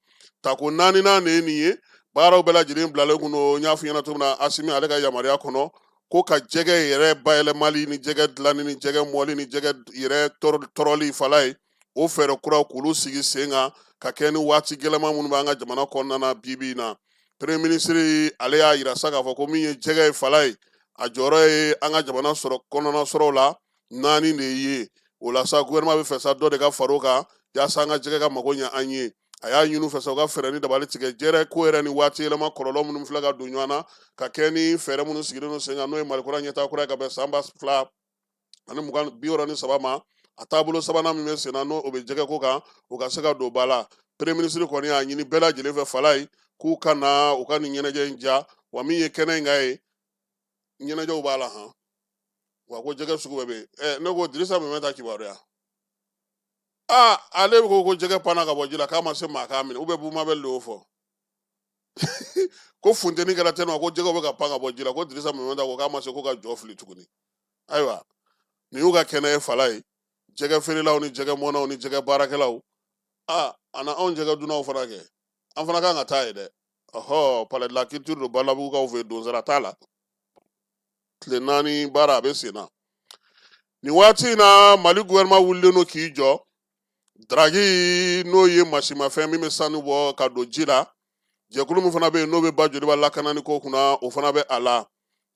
tako naaninan de ye nin ye baaraw bɛɛ lajɛlen bilalen kun don n y'a fɔ ɲɛna cogo min na asimi ale ka yamaruya kɔnɔ ko ka jɛgɛ yɛrɛ bayɛlɛmali ni jɛgɛ dilanni ni jɛgɛ mɔli ni jɛgɛ yɛrɛ tɔrɔli fala ye o fɛɛrɛ kuraw k'olu sigi sen kan ka kɛ ni waati gɛlɛma minnu b'an ka jamana kɔnɔna na bi bi in na premier ministre ale y'a yira sa k'a fɔ ko min ye jɛgɛ ye fala ye a jɔyɔrɔ ye an ka jamana sɔrɔ kɔnɔna sɔrɔw la naani de ye o la sa gouvernement b'a fɛ sa dɔ de ka far'o kan yaasa an ka jɛgɛ ka mago ɲɛ an ye a y'a ɲini u fɛ sa u ka fɛɛrɛ ni dabali tigɛ jɛgɛ ko yɛrɛ ni waati yɛlɛma kɔlɔlɔ minnu filɛ ka don ɲɔgɔn na ka kɛ ni fɛɛrɛ minnu sigilen don sen kan n'o ye malikura ɲɛtaa kura ye ka bɛn san ba fila ani mugan bi wɔɔrɔ ni saba ma a taabolo sabanan min bɛ sen na n'o o bɛ jɛgɛ ko kan o ka se ka don ba la premier ministre kɔni y'a ɲini bɛɛ lajɛlen fɛ fala ye k'u ka na u ka nin ɲɛnajɛ in ja wa min ye kɛnɛ in kan ye ɲɛnajɛw b'a la han wa ko jɛgɛ sugu bɛɛ bɛ yen ɛ ne ko dirisa mɛminta kibaruya aa ale ko ko jɛgɛ panna ka bɔ ji la k'a ma se maa k'a minɛ bubu mabɛli y'o fɔ ko funteni kɛra tɛnɔ ko jɛgɛw bɛ ka pan ka bɔ ji la ko dirisa mɛminta ko k'a ma se ko ka jɔ fili tuguni ayiwa nin y'u ka kɛnɛ ye fala ye jɛgɛ feerelaw ni jɛgɛ mɔnaw ni jɛgɛ baarakɛlaw a a na anw jɛgɛ dunnaw fana kɛ an fana kan ka taa yen dɛ ɔhɔ palais de la culture don badalabugukaw fɛ donsara t'a la tile naani baara a bɛ sen na nin waati in na mali gouvernement wulilen don k'i jɔ daraki n'o ye masimafɛn min bɛ sanu bɔ ka don ji la jɛkulu min fana bɛ yen n'o bɛ ba joliba lakanani ko kunna o fana bɛ a la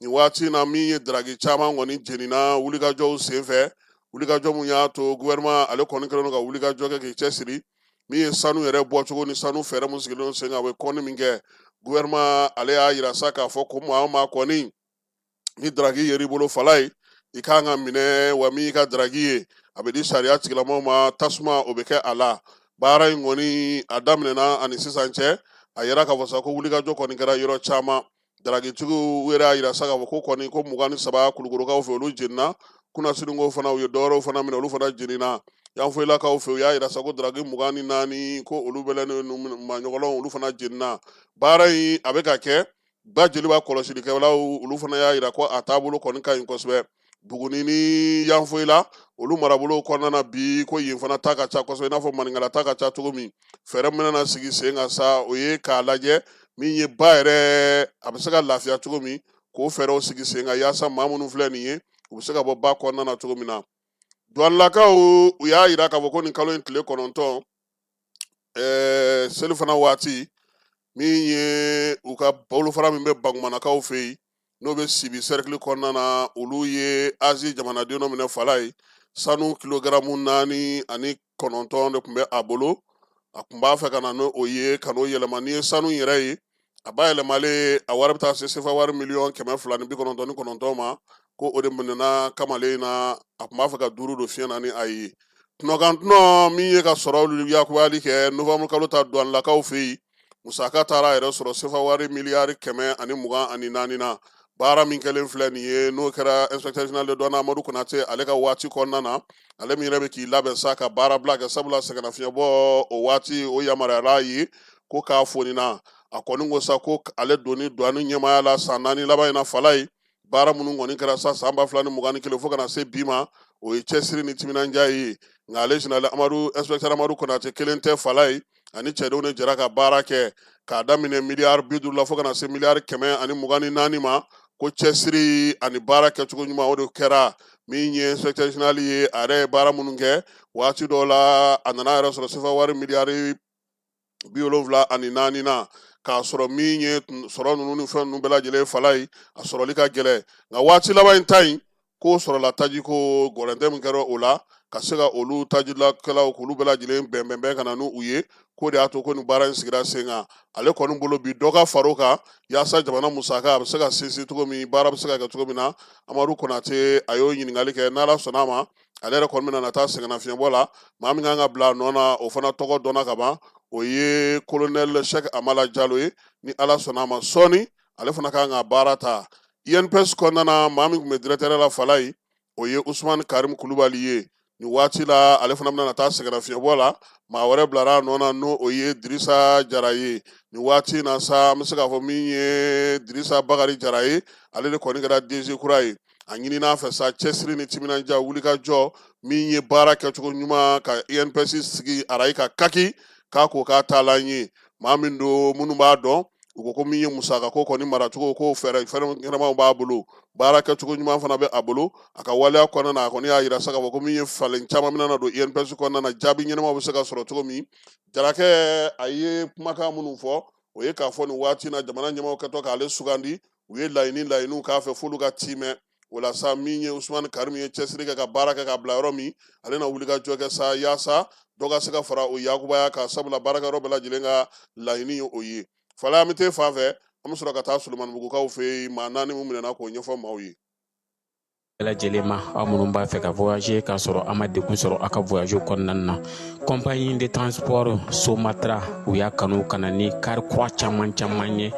nin waati in na min ye daraki caman kɔni jenina wulikajɔw senfɛ wulikajɔ min y'a to gouvernement ale kɔni kɛlen don ka wulikajɔ kɛ k'i cɛsiri min ye sanu yɛrɛ bɔcogo ni sanu fɛɛrɛ min sigilen sen kan a bɛ kɔni min kɛ gouvernement ale y'a yira sa k'a fɔ ko maa o maa kɔni ni daraki yer'i bolo fala ye i kan ka minɛ wa min y'i ka daraki ye a bɛ di sariya tigilamaw ma tasuma o bɛ kɛ a la baara in kɔni a daminɛna ani sisan cɛ a yɛrɛ k'a fɔ sa ko wulikajɔ kɔni kɛra yɔrɔ caman darakitigiw yɛrɛ y'a yira sa k'a fɔ ko kɔni ko mugan ni saba kulukorokaw fɛ olu jenina kunasinikɔ fana u ye dɔwɛrɛw fana minɛ olu fana jenina yanfoyilakaw fɛ u y'a yira sa ko daraki mugan ni naani ko olu bɛlɛnnen maɲɔgɔnlɔw olu fana jenina baara in a bɛ ka kɛ ba jeliba kɔlɔsilikɛlaw olu fana y'a yira ko a taabolo kɔni ka ɲi kosɛbɛ buguni ni yanfoyila olu marabolo kɔnɔna na bi ko yen fana ta ka ca kosɛbɛ i n'a fɔ maninkala ta ka ca cogo min fɛɛrɛ min na sigi sen kan sa o ye k'a lajɛ min ye ba yɛrɛ a bɛ se ka lafiya cogo min k'o fɛɛrɛw sigi sen kan yaasa maa minnu filɛ nin ye u bɛ se ka bɔ ba kɔnɔna na cogo min na duwanlakaw u y'a yira k'a fɔ ko nin kalo in tile kɔnɔntɔn ɛɛ selifana waati min ye u ka bolofara min bɛ bankumanakaw fɛ yen n'o bɛ sibi sɛrikili kɔnɔna na olu ye azi jamanaden dɔ minɛ fala ye sanu kilogaramu naani ani kɔnɔntɔn de tun bɛ a bolo a tun b'a fɛ ka na n'o ye ka n'o yɛlɛma n'i ye sanu yɛrɛ ye a bayɛlɛmalen a wari bɛ taa se sefa wari miliyɔn kɛmɛ fila ni bi kɔnɔntɔn ni kɔnɔntɔn ma ko o de minɛna kamalen na a tun b'a fɛ ka duuru don fiɲɛ na ni a ye tunɔkan tunɔ min ye ka sɔrɔ olu yakubali kɛ nowanburu kalo ta duwanlakaw fɛ yen musaka taara a yɛrɛ sɔrɔ sefa wari miliyari kɛmɛ ani mugan ani naani na baara min kɛlen filɛ nin ye n'o kɛra inspecteur général de douane Amadou Konate ale ka waati kɔnɔna na ale min yɛrɛ bɛ k'i labɛn sa ka baara bila kɛ sabula sɛgɛnnafiɲɛbɔ o waati o yamaruyara a ye ko k'a fonina a kɔni ko sa ko ale donni douane ɲɛmaaya la san naani laban in na fala ye baara minnu kɔni kɛra sa san ba fila ni mugan ni kelen fo ka na se bi ma o ye cɛsiri ni timinandiya ye nka ale général amadu inspecteur amadu konate kelen tɛ fala ye ani cɛdenw de jɛra ka baara kɛ k'a daminɛ miliyari bi duuru la fo ka na se miliyari kɛmɛ ani mugan ni naani ma ko cɛsiri ani baara kɛcogo ɲuman o de kɛra min ye inspecteur général ye a yɛrɛ ye baara minnu kɛ waati dɔw la a nana yɛrɛ sɔrɔ sefa wari miliyari bi wolonwula ani naani na k'a sɔrɔ min ye sɔrɔ ninnu ni fɛn ninnu bɛɛ lajɛlen fala ye a sɔrɔli ka gɛlɛn nka waati laban in ta in k'o sɔrɔla taji ko gɔrɛntɛ min kɛra o la ka se ka olu tajilakɛlaw k'olu bɛɛ lajɛlen bɛnbɛnbɛn ka na n'u ye k'o de y'a to ko nin baara in sigira sen kan ale kɔni bolo bi dɔ ka far'o kan yaasa jamana musaka a bɛ se ka sinsin cogo min baara bɛ se ka kɛ cogo min na amadu konate a y'o ɲininkali kɛ n'ala sɔnna a ma ale yɛrɛ kɔni bɛna na taa sɛgɛnnafiɲɛbɔ la maa min kan ka bila a nɔ na o fana tɔgɔ dɔnna ka ban o ye kolonɛli sɛki amala jalo ye ni ala sɔnna a ma sɔɔni ale fana kan ka baara ta inps kɔnɔna na maa min tun bɛ directeur la fala ye o ye usumani karim kulubali ye nin waati la ale fana bɛna na taa sɛgɛnnafiɲɛbɔ la maa wɛrɛ bilara a nɔ na n'o o ye dirisa jara ye nin waati na sa an bɛ se k'a fɔ min ye dirisa bakari jara ye ale de kɔni kɛra dg kura ye a ɲinin'a fɛ sa cɛsiri ni timinandiya wulikajɔ min ye baara kɛcogo ɲuman ka inps sigi arayi ka kaki k'a ko k'a taalan ye maa min don minnu b'a dɔn u ko ko min ye musaka ko kɔni maracogo ko fɛɛrɛ ɲɛnamaw b'a bolo baara kɛcogo ɲuman fana bɛ a bolo a ka waleya kɔnɔna na a kɔni y'a yira sa k'a fɔ ko min ye falen caman bɛna na don inps kɔnɔna na jaabi ɲɛnamaw bɛ se ka sɔrɔ cogo min jarakɛ a ye kumakan minnu fɔ o ye k'a fɔ nin waati na jamana ɲɛmaaw kɛtɔ k'ale sugandi u ye laɲini laɲiniw k'a fɛ f'olu ka tiimɛ o la sa min ye usumani karimu ye cɛsiri kɛ ka baara kɛ ka bila yɔrɔ min ale na wulikajɔ kɛ sa yaasa dɔ ka se ka fara o yakubaya kan sabula baarakɛyɔrɔ bɛɛ lajɛlen ka laɲini ye o ye fala an fan fɛ an bɛ sɔrɔ ka taa solomanibugukaw fɛ yen maa naani min minɛna k'o ɲɛfɔ maaw ye bɛɛ lajɛlen ma aw minnu b'a fɛ ka voyager k'a sɔrɔ a ma degun sɔrɔ a ka voyage kɔnɔna na compagnie de transport somatra u y'a kanu ka na ni kari kura caman caman ye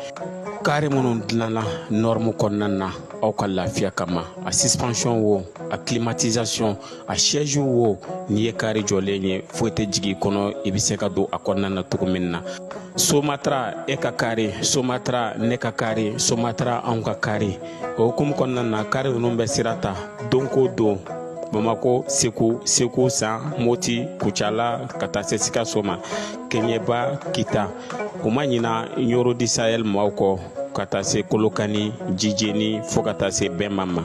kari minnu dilanna nɔrɔmu kɔnɔna na aw ka lafiya kama a suspension wo a climatisation a siège wo n'i ye kari jɔlen ye foyi tɛ jigin kɔnɔ i bɛ se ka don a kɔnɔna na cogo min na somatara e ka kari somatara ne ka kari somatara anw ka kari o hukumu kɔnɔna na kari ninnu bɛ sira ta don ko don bamako segu segu san moti kucala ka taa se sikaso ma kɛɲɛba kita u ma ɲina ɲɔrɔ du sahɛl maaw kɔ ka taa se kolokani jijeni fɔɔ ka taa se bɛma ma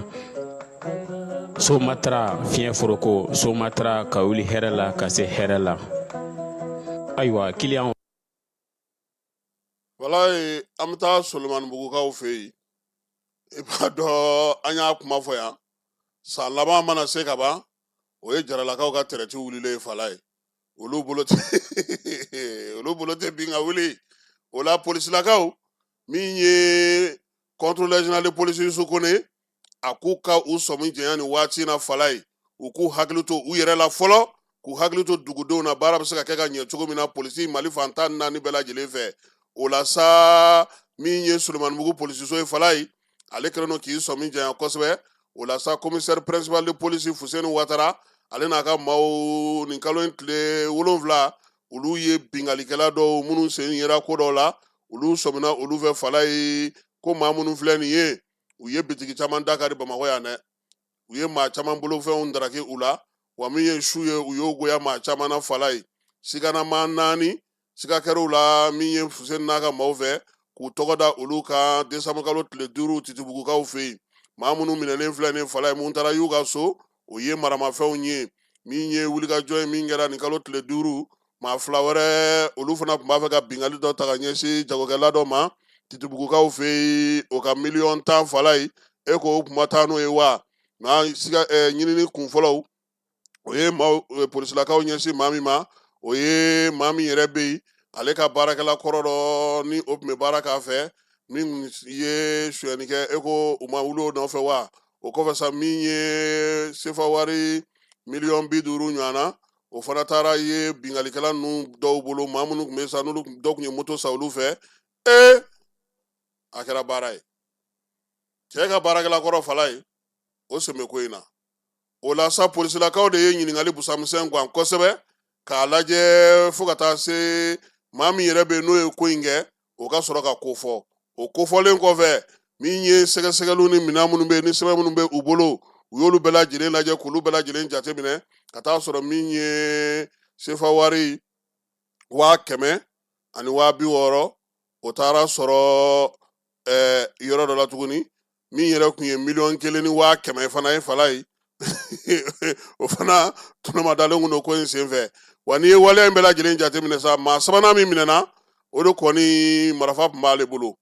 somatara fiɲɛ foroko somatara ka wuli hɛrɛ la ka se hɛrɛ la ayiwa kiliyan falayi an bɛ taa solomanibugukaw fɛ yen i b'a dɔn an y'a kuma fɔ yan san laban mana se ka ban o ye jaralakaw ka tɛrɛti wulilen falayi olu bolo tɛ olu bolo tɛ bin ka wuli o la polisilakaw min ye kɔntorolɛri zenerali de polisi yusu kone a k'u ka u sɔmi janya ni waati na falayi u k'u hakili to u yɛrɛ la fɔlɔ k'u hakili to dugudenw na baara bɛ se ka kɛ ka ɲɛ cogo min na polisi mali fan tan ni naani bɛɛ lajɛlen fɛ o la sa min ye solomanibugu polisiso ye falayi ale kɛlen don k'i sɔmi janya kosɛbɛ o la sa komisɛri pɛrɛnsipali de polisi fuseni watara ale n'a ka maaw nin kalo in tile wolonfila olu ye binkalikɛla dɔw minnu sen yera ko dɔw la olu sɔmina olu fɛ falayi ko maa minnu filɛ nin ye u ye bitigi caman dakari bamakɔ yan dɛ u ye maa caman bolofɛnw daraki u la wa min ye su ye u y'o goya maa caman na falayi siganamaa naani siga kɛr'u la min ye fuseni n'a ka maaw fɛ k'u tɔgɔ da olu kan desanburukalo tile duuru titibugukaw fɛ yen maa minnu minɛlen filɛ nin falayi mun taara y'u ka so o ye maramafɛnw ye min ye wulikajɔ ye min kɛra nin kalo tile duuru maa fila wɛrɛ olu fana tun b'a fɛ ka bingali dɔ ta ka ɲɛsin jagokɛla dɔ ma titibugukaw fɛ yen o ka miliyɔn tan falayi e ko o kun ma taa n'o ye wa nka siga eh, ɲinini kun fɔlɔw o ye maaw eh, polisilakaw ɲɛsin maa min ma o ye maa min yɛrɛ bɛ yen ale ka baarakɛla kɔrɔ dɔ ni o tun bɛ baara k'a fɛ min ye suyɛnni kɛ e ko u ma wuli o nɔfɛ wa o kɔfɛ sa min ye sefa wari miliyɔn bi duuru ɲɔgɔnna o fana taara ye binkalikɛla ninnu dɔw bolo maa minnu tun bɛ sa n'olu dɔ tun ye moto sa olu fɛ ee a kɛra baara ye cɛ ka baarakɛla kɔrɔ falayi o sen bɛ ko in na o la sa polisilakaw de ye ɲininkali busamisɛn gan kosɛbɛ k'a lajɛ fo ka taa se maa min yɛrɛ bɛ yen n'o ye ko in kɛ o ka sɔrɔ ka kofɔ o kofɔlen kɔfɛ min ye sɛgɛsɛgɛliw ni minɛn minnu bɛ yen ni sɛbɛn minnu bɛ u bolo u y'olu bɛɛ lajɛlen lajɛ k'olu bɛɛ lajɛlen jateminɛ ka taa sɔrɔ min ye sefa wari waa kɛmɛ ani waa bi wɔɔrɔ o taara sɔrɔ ɛɛ yɔrɔ dɔ la tuguni min yɛrɛ tun ye miliyɔn kelen ni waa kɛmɛ fana ye falayi o fana tɔnɔmadalen kun don ko in senfɛ wa n'i ye waleya in bɛɛ lajɛlen jateminɛ sa maa sabanan min minɛna o de kɔni marifa tun b'ale bolo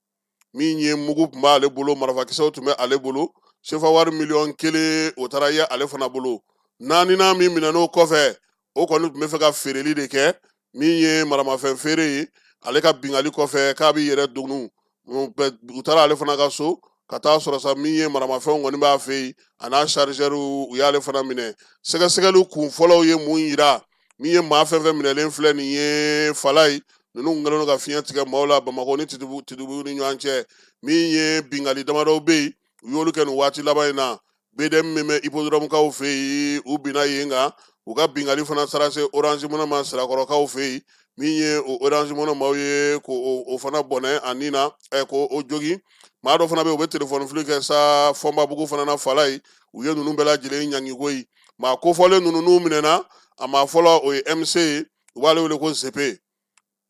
min ye mugu tun b'ale bolo marifakisɛw tun bɛ ale bolo sefa wari miliyɔn kelen o taara ye ale fana bolo naaninan min minɛn'o kɔfɛ o kɔni tun bɛ fɛ ka feereli de kɛ min ye maramafɛn feere ye ale ka bingali kɔfɛ k'a b'i yɛrɛ dogo u taara ale fana ka so ka taa sɔrɔ sa min ye maramafɛnw kɔni b'a fɛ yen a n'a chargeur u y'ale fana minɛ sɛgɛsɛgɛliw kun fɔlɔw ye mun yira min ye maa fɛn fɛn minɛlen filɛ nin ye falayi ninnu kɛlen don ka fiɲɛ tigɛ maaw la bamakɔ ni titibugu ni ɲɔgɔn cɛ min ye bingali damadɔw bɛ yen u y'olu kɛ nin waati laban in na BDM min bɛ hippodrɔmukaw fɛ yen u binna yen kan u ka binkali fana taara se orange money ma sirakɔrɔkaw fɛ yen min ye o orange money maaw ye ko o fana bɔnɛ a ni na ɛ ko o jogi maa dɔ fana bɛ yen u bɛ telefɔni fili kɛ sa fɔnbabugu fana na falayi u ye ninnu bɛɛ lajɛlen ɲangiko ye maa kofɔlen ninnu n'u minɛna a maa fɔlɔ o ye MC ye u b'ale wele ko zepe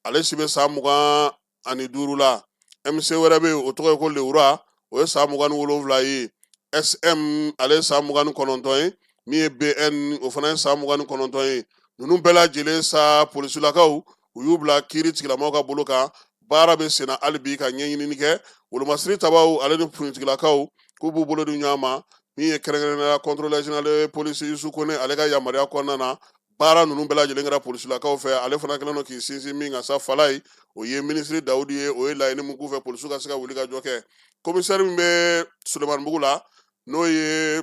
ale si bɛ san mugan ani duuru la MC wɛrɛ bɛ yen o tɔgɔ ye ko Lewura o ye san mugan ni wolonwula ye SM ale ye san mugan ni kɔnɔntɔn ye min ye BN o fana ye san mugan ni kɔnɔntɔn ye ninnu bɛɛ lajɛlen sa polisilakaw u y'u bila kiiritigɛlamaaw ka bolo kan baara bɛ senna hali bi ka ɲɛɲinini kɛ wolomasiri tabaw ale ni finitigilakaw k'u b'u bolo di ɲɔgɔn ma min ye kɛrɛnkɛrɛnnenya la contrôleur général polisi yusu kone ale ka yamaruya kɔnɔna na baara ninnu bɛɛ lajɛlen kɛra polisilakaw fɛ ale fana kɛlen don k'i sinsin min kan sa falayi o ye minisiri dawudi ye o ye laɲini min k'u fɛ polisiw ka se ka wulikajɔ kɛ komisɛri min bɛ sulemanibugu la n'o ye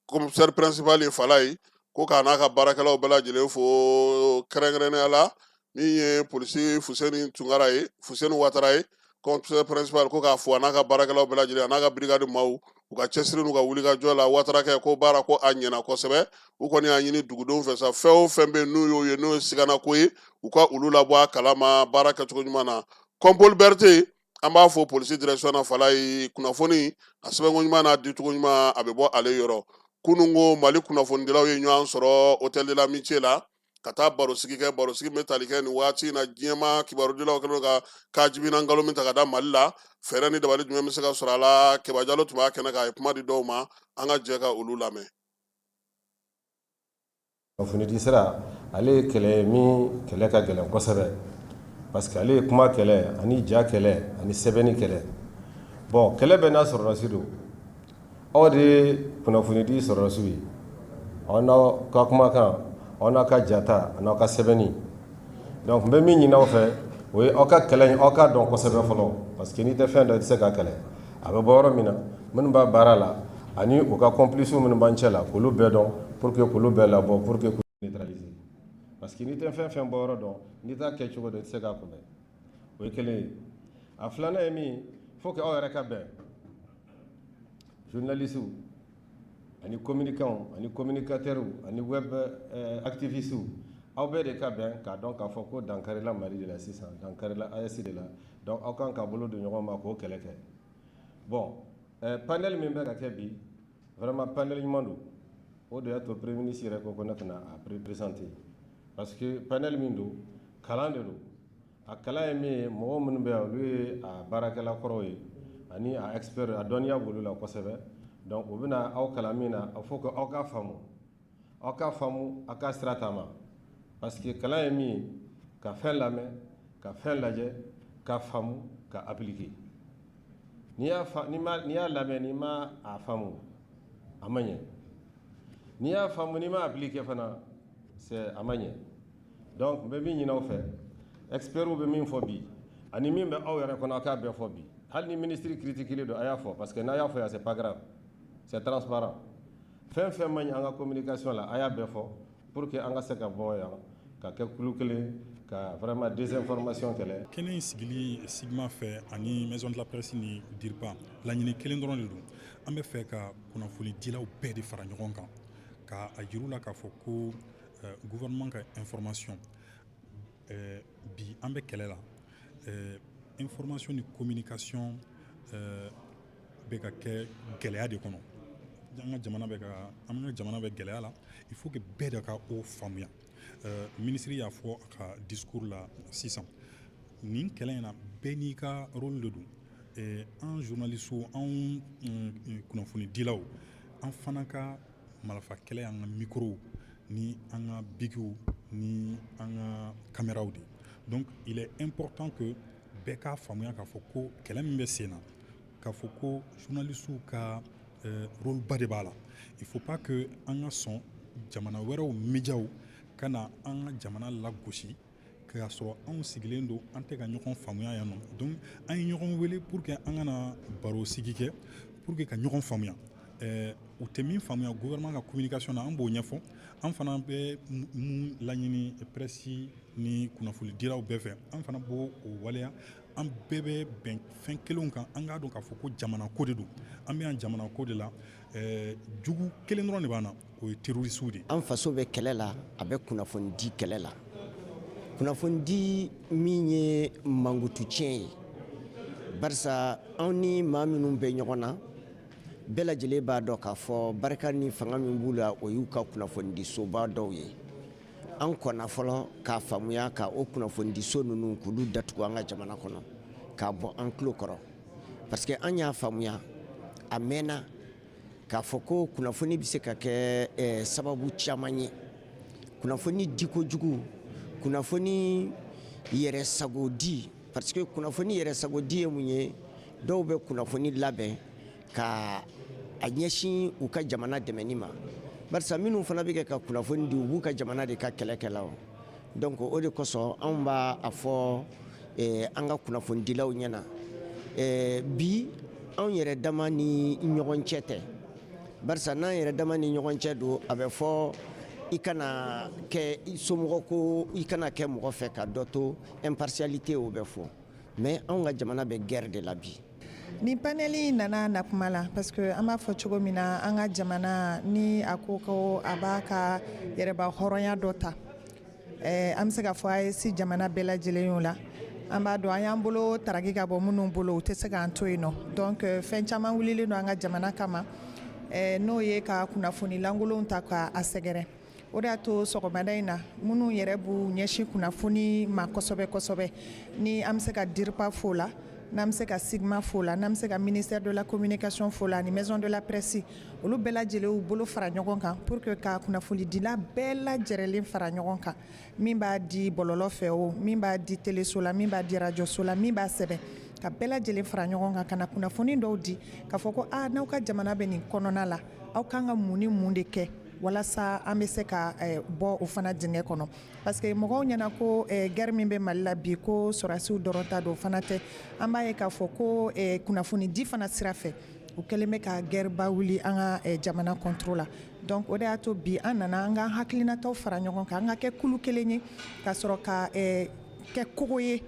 komisɛri pɛrɛnsipali ye falayi ko k'a n'a ka baarakɛlaw bɛɛ lajɛlen fo kɛrɛnkɛrɛnnenya la min ye polisi fuseni tunkara ye fuseni watara ye commissaire principal ko k'a fo a n'a ka baarakɛlaw bɛɛ lajɛlen a n'a ka birikadi maaw u ka cɛsiri n'u ka wulikajɔ la watarakɛ ko baara ko a ɲɛna kosɛbɛ u kɔni y'a ɲini dugudenw fɛ sa fɛn o fɛn bɛ n'u y'o ye n'o ye sigana ko ye u ka olu labɔ a kalama baara kɛcogo ɲuman na kɔnpoli berete an b'a fɔ polisi direction na falayi kunnafoni a sɛbɛnko ɲuman n'a dicogo ɲuman a bɛ bɔ ale yɔrɔ kunun ko mali kunnafonidilaw ye ɲɔgɔn sɔrɔ hôtel de l'amitié la ka taa barosigi kɛ barosigi bɛ tali kɛ nin waati in na diɲɛma kibarudilaw kɛlen ka kajibina nkalon min ta ka da mali la fɛɛrɛ ni dabali jumɛn bɛ se ka sɔrɔ a la keba jalo tun b'a kɛnɛ kan a ye kuma di dɔw ma an ka jɛ ka olu lamɛn kunnafonidi sira ale ye kɛlɛ ye min kɛlɛ ka gɛlɛn kosɛbɛ parce que ale ye kuma kɛlɛ ani ja kɛlɛ ani sɛbɛnni kɛlɛ bon kɛlɛ bɛɛ n'a sɔrɔdasi don aw de ye kunnafonidi sɔrɔdasiw ye aw n'aw ka kumakan aw n'aw ka jata an'aw ka sɛbɛnni donc n bɛ min ɲini aw fɛ o ye aw ka kɛlɛ in aw k'a dɔn kosɛbɛ fɔlɔ parce que n'i tɛ fɛn dɔn i tɛ se k'a kɛlɛ a bɛ bɔ yɔrɔ min na minnu b'a baara la ani u ka complices minnu b'an cɛ la k'olu bɛɛ dɔn pour que k'olu bɛɛ labɔ pour que neutraliser parce que n'i tɛ fɛn fɛn bɔ yɔrɔ dɔn n'i t'a kɛ cogo dɔn i tɛ se k'a kunbɛn o ye kelen ye a filanan ye min ye faut que aw yɛrɛ ka bɛn journalistew ani communicants ani communicateurs ani web euh, activistes aw bɛɛ de ka bɛn k'a dɔn k'a fɔ ko dankarila Mali de la sisan dankarila AES de la donc aw kan ka bolo di ɲɔgɔn ma k'o kɛlɛ kɛ bon euh, panel min bɛ ka kɛ bi vraiment panel ɲuman don o de y'a to premier ministre yɛrɛ ko ne ka na a présenter parce que panel min don kalan de don a kalan ye min ye mɔgɔ minnu bɛ yan olu ye a baarakɛla kɔrɔw ye ani a expert a dɔnniya b'olu la kosɛbɛ donc u bɛna aw kalan min na il faut que aw k'a faamu aw ka faamu a ka sira taama parce que kalan ye min ye ka fɛn lamɛn ka fɛn lajɛ ka faamu ka appliquer n'i y'a fa n'i ma n'i y'a lamɛn n'i ma a faamu a ma ɲɛ n'i y'a faamu n'i ma appliquer fana c'est a ma ɲɛ donc n bɛ min ɲini aw fɛ expertw bɛ min fɔ bi ani min bɛ aw yɛrɛ kɔnɔ a k'a bɛɛ fɔ bi hali ni ministre critiquer don a y'a fɔ parce que n'a y'a fɔ yan c'est pas grave c'est transparent fɛn fɛn man ɲi an ka communication la a y'a bɛɛ fɔ pour que an ka se ka bɔ yan ka kɛ kulu kelen ka vraiment désinformation kɛlɛ kɛnɛ in sigili CIGMA fɛ ani maison de la presse ni DIRPA laɲini kelen dɔrɔn de don an bɛ fɛ ka kunnafoni dilaw bɛɛ de fara ɲɔgɔn kan ka a jir'u la k'a fɔ ko euh, gouvernement ka information eh, bi an bɛ kɛlɛ la eh, information ni communication eh, bɛ ka kɛ gɛlɛya de kɔnɔ an ka jamana bɛ ka an ka jamana bɛ gɛlɛya la il faut que bɛɛ de ka o faamuya ministre y'a fɔ a ka discours la sisan nin kɛlɛ in na bɛɛ n'i ka rôle de don an journalistew anw mm, mm, kunnafonidilaw an fana ka Marafa kɛlɛ an ka microw ni an ka bikiw ni an ka kameraw de donc il est important que bɛɛ k'a faamuya k'a fɔ ko kɛlɛ min bɛ sen na k'a fɔ ko journalistew ka rôle ba de b'a la il faut pas que an ka sɔn jamana wɛrɛw médiaw ka na an ka jamana lagosi k'a sɔrɔ anw sigilen don an tɛ ka ɲɔgɔn faamuya yan nɔ donc an ye ɲɔgɔn wele pour que an ka na baro sigi kɛ pour que ka ɲɔgɔn faamuya eh, u tɛ min faamuya gouvernement ka communication na an b'o ɲɛfɔ an fana bɛ mun laɲini presse ni kunnafoni dilaw bɛɛ fɛ an fana b'o o waleya an bɛɛ bɛ bɛn fɛn kelenw kan an k'a dɔn k'a fɔ ko jamana ko de don an bɛ yan jamana ko de la eh, jugu kelen dɔrɔn de b'an na o ye terroriste de ye. An faso bɛ kɛlɛ la, a bɛ kunnafoni di kɛlɛ la. Kunnafoni di min ye mankutu tiɲɛ ye. Barisa anw ni maa minnu bɛ ɲɔgɔn na, bɛɛ lajɛlen b'a dɔn k'a fɔ barika ni fanga min b'u la, o y'u ka kunnafonidisoba dɔw ye. An kɔnna fɔlɔ k'a faamuya ka o kunnafonidiso ninnu k'olu datugu an ka jamana kɔnɔ, k'a bɔ an tulo kɔrɔ. Parce que an y'a faamuya, a mɛnna k'a fɔ ko kunnafoni bɛ se ka kɛ eh, sababu caman ye kunnafoni diko jugu kunnafoni yɛrɛ sago di parce que kunnafoni yɛrɛ sago di ye mun ye dɔw bɛ kunnafoni labɛn ka a ɲɛsin u ka jamana dɛmɛni ma barisa minnu fana bɛ kɛ ka kunnafoni di u b'u ka jamana de ka kɛlɛkɛlaw donc o de kosɔn anw b'a a fɔ eh, an ka kunnafonidilaw ɲɛna eh, bi anw yɛrɛ dama ni ɲɔgɔn cɛ tɛ barisa n'an yɛrɛ dama ni ɲɔgɔn cɛ don a bɛ fɔ i kana kɛ somɔgɔ ko i kana kɛ mɔgɔ fɛ ka dɔ to impartialité o bɛ fɔ mais anw ka jamana bɛ guerre de la bi Ni paneli nana na kuma la parce que an b'a fɔ cogo min na an ka jamana ni a ko ko a b'a ka yɛrɛmahɔrɔnya dɔ ta eh, an bɛ se k'a fɔ AES jamana bɛɛ lajɛlen y'o la an b'a dɔn an y'an bolo taraki ka bɔ minnu bolo u tɛ se k'an to yen nɔ donc euh, fɛn caman wulilen don an ka jamana kama eh, n'o ye ka kunnafoni lankolonw ta ka a sɛgɛrɛ o de y'a to sɔgɔmada in na minnu yɛrɛ b'u ɲɛsin kunnafoni ma kosɛbɛ kosɛbɛ ni an bɛ se ka DIRPA fo la n'an bɛ se ka CIGMA fo la n'an bɛ se ka ministère de la communication fo la ani maison de la presse olu bɛɛ lajɛlen y'u bolo fara ɲɔgɔn kan pour que ka kunnafonidila bɛɛ lajɛrɛlen fara ɲɔgɔn kan min b'a di bɔlɔlɔ fɛ o min b'a di teleso la min b'a di rajoso la min b'a sɛbɛn ka bɛɛ lajɛlen fara ɲɔgɔn kan ka na kunnafoni dɔw di k'a fɔ ko a ah, n'aw ka jamana bɛ nin kɔnɔna la aw kan ka mun ni mun de kɛ walasa an bɛ se ka eh, bɔ o fana dingɛ kɔnɔ parce que mɔgɔw ɲɛna ko eh, guerre min bɛ mali la bi ko sɔrasiw dɔrɔn ta don o fana tɛ an b'a ye k'a fɔ ko eh, kunnafonidi fana sira fɛ u kɛlen bɛ ka guerre ba wuli an ka jamana contre la donc o de y'a to bi an nana an k'an hakilinataw fara ɲɔgɔn kan an ka kɛ kulu kelen ye ka sɔrɔ ka kɛ kogo ye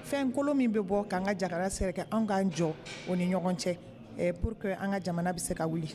fɛn kolon min bɛ bɔ k'an ka jamana sɛgɛrɛ anw k'an jɔ o ni ɲɔgɔn cɛ pour que an ka jamana bɛ se ka wuli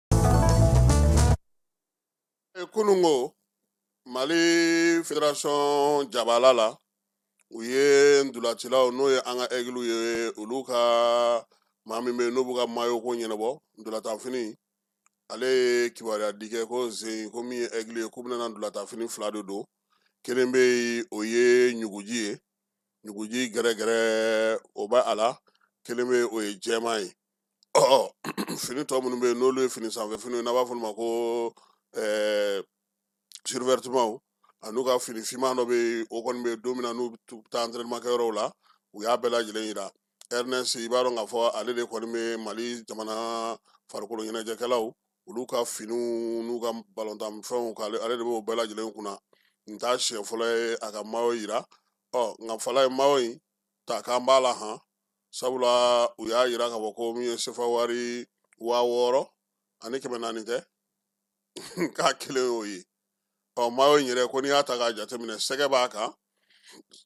kununko mali federasɔn jabala la u ye ndolacilaw n'o ye an ka ɛgiliw ye olu ka maa min bɛ yen n'o b'u ka mayo ko ɲɛnabɔ ndolatanfini ale ye kibaruya di kɛ ko zen ko min ye ɛgili ye k'u bɛna ndolatanfini fila de don kelen bɛ yen o ye ɲuguji ye ɲuguji gɛrɛgɛrɛ o bɛ a la kelen bɛ yen o ye jɛman ye ɔ fini tɔ minnu bɛ yen n'olu ye fini sanfɛ fini n'a b'a f'u ma ko ɛɛ survɛtimaw an'u ka fini finman dɔ bɛ yen o kɔni bɛ don min na n'u bɛ taa antɛrɛniman kɛyɔrɔw la u y'a bɛɛ lajɛlen yira airness i b'a dɔn k'a fɔ ale de kɔni bɛ mali jamana farikolo ɲɛnajɛkɛlaw olu ka finiw n'u ka balontan fɛnw k'ale ale de b'o bɛɛ lajɛlen kunna n t'a siɲɛ fɔlɔ ye a ka mayo yira ɔ nka fala ye mayo in ta k'an b'a la han sabula u y'a yira ka fɔ ko min ye sefa wari wa wɔɔrɔ ani kɛmɛ naani tɛ k'a kelen y'o ye ɔ mayo yɛrɛ ko n'i y'a ta k'a jateminɛ sɛgɛ b'a kan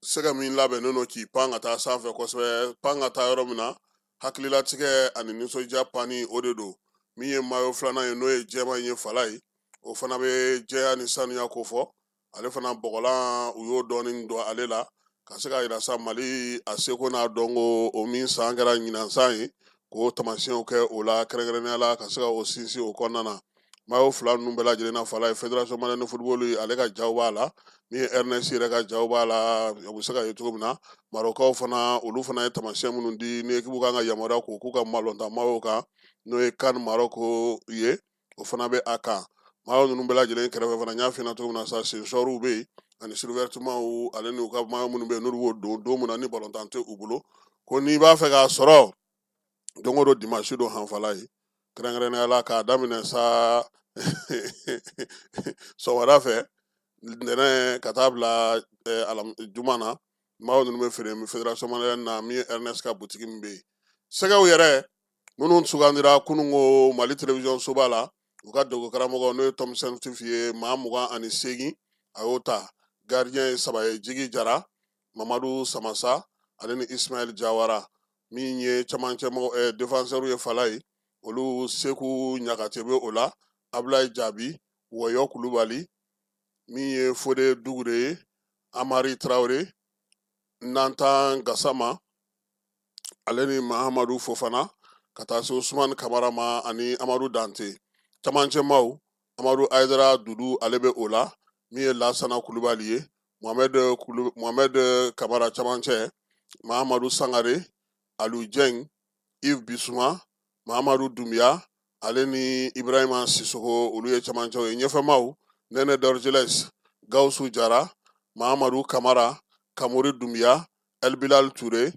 sɛgɛ min labɛnnen don k'i pan ka taa sanfɛ kosɛbɛ pan ka taa yɔrɔ min na hakililatigɛ ani nisɔndiya panni o de don min ye mayo filanan ye n'o ye jɛman ye fala ye o fana bɛ jɛya ni sanuya ko fɔ ale fana bɔgɔlan u y'o dɔɔnin don ale la ka se ka yira sa mali a seko n'a dɔnko o min san kɛra ɲinan san ye k'o tamasiyɛnw kɛ o la kɛrɛnkɛrɛnnenya la ka se ka o sinsin o kɔnɔna na mayo fila ninnu bɛɛ lajɛlen na fala ye fédération malienne de football ale ka ja b'a la min ye airness yɛrɛ ka ja b'a la a bɛ se ka ye cogo min na marɔkaw fana olu fana ye tamasiyɛn minnu di ni ekibu kan ka yamaruya ko k'u ka min da mayo kan n'o ye can marɔku ye o fana bɛ a kan mayo ninnu bɛɛ lajɛlen kɛrɛfɛ fana n y'a f'i ɲɛna cogo min na sa sensɔriw bɛ yen ani suruvɛtimaw ale n'u ka mayo minnu bɛ yen n'olu b'o don don min na ni balontan tɛ u bolo ko n'i b'a fɛ k'a sɔrɔ don o don dimansi don han fala ye kɛrɛnkɛrɛnnenya la k'a daminɛ sa sɔgɔmada fɛ ntɛnɛn ka taa bila eh, alam- juma na mayo ninnu bɛ feere fédération malienne na min ye airness ka butigi min bɛ yen sɛgɛw yɛrɛ minnu sugandira kunun ko mali télévision soba la u ka dogo karamɔgɔ n'o ye tom saintfiet ye maa mugan ani seegin a y'o ta gardien ye saba ye jigi jara mamadu samasa ale ni isimayɛli jawara min ye camancɛmɔgɔ eh, defansɛriw ye fala ye olu seku ɲagate bɛ o la abulayi jabi wɔyɔ kulubali min ye fode dugure ye amari traore natan gasama ale ni mahamadu fofana ka taa se usumani kamara ma ani amadu dante camancɛ maaw amadu ayidara dudu ale bɛ o la min ye lasana kulubali ye mohamɛd kamara camancɛ mahamadu sangare alu jɛng ive bisuma mahamadu dunbiya ale ni ibrahima sisoko olu ye camancɛw ye ɲɛfɛmaaw nene dorgeles gawusu jara mahamadu kamara kamori dunbiya Elbilal Ture,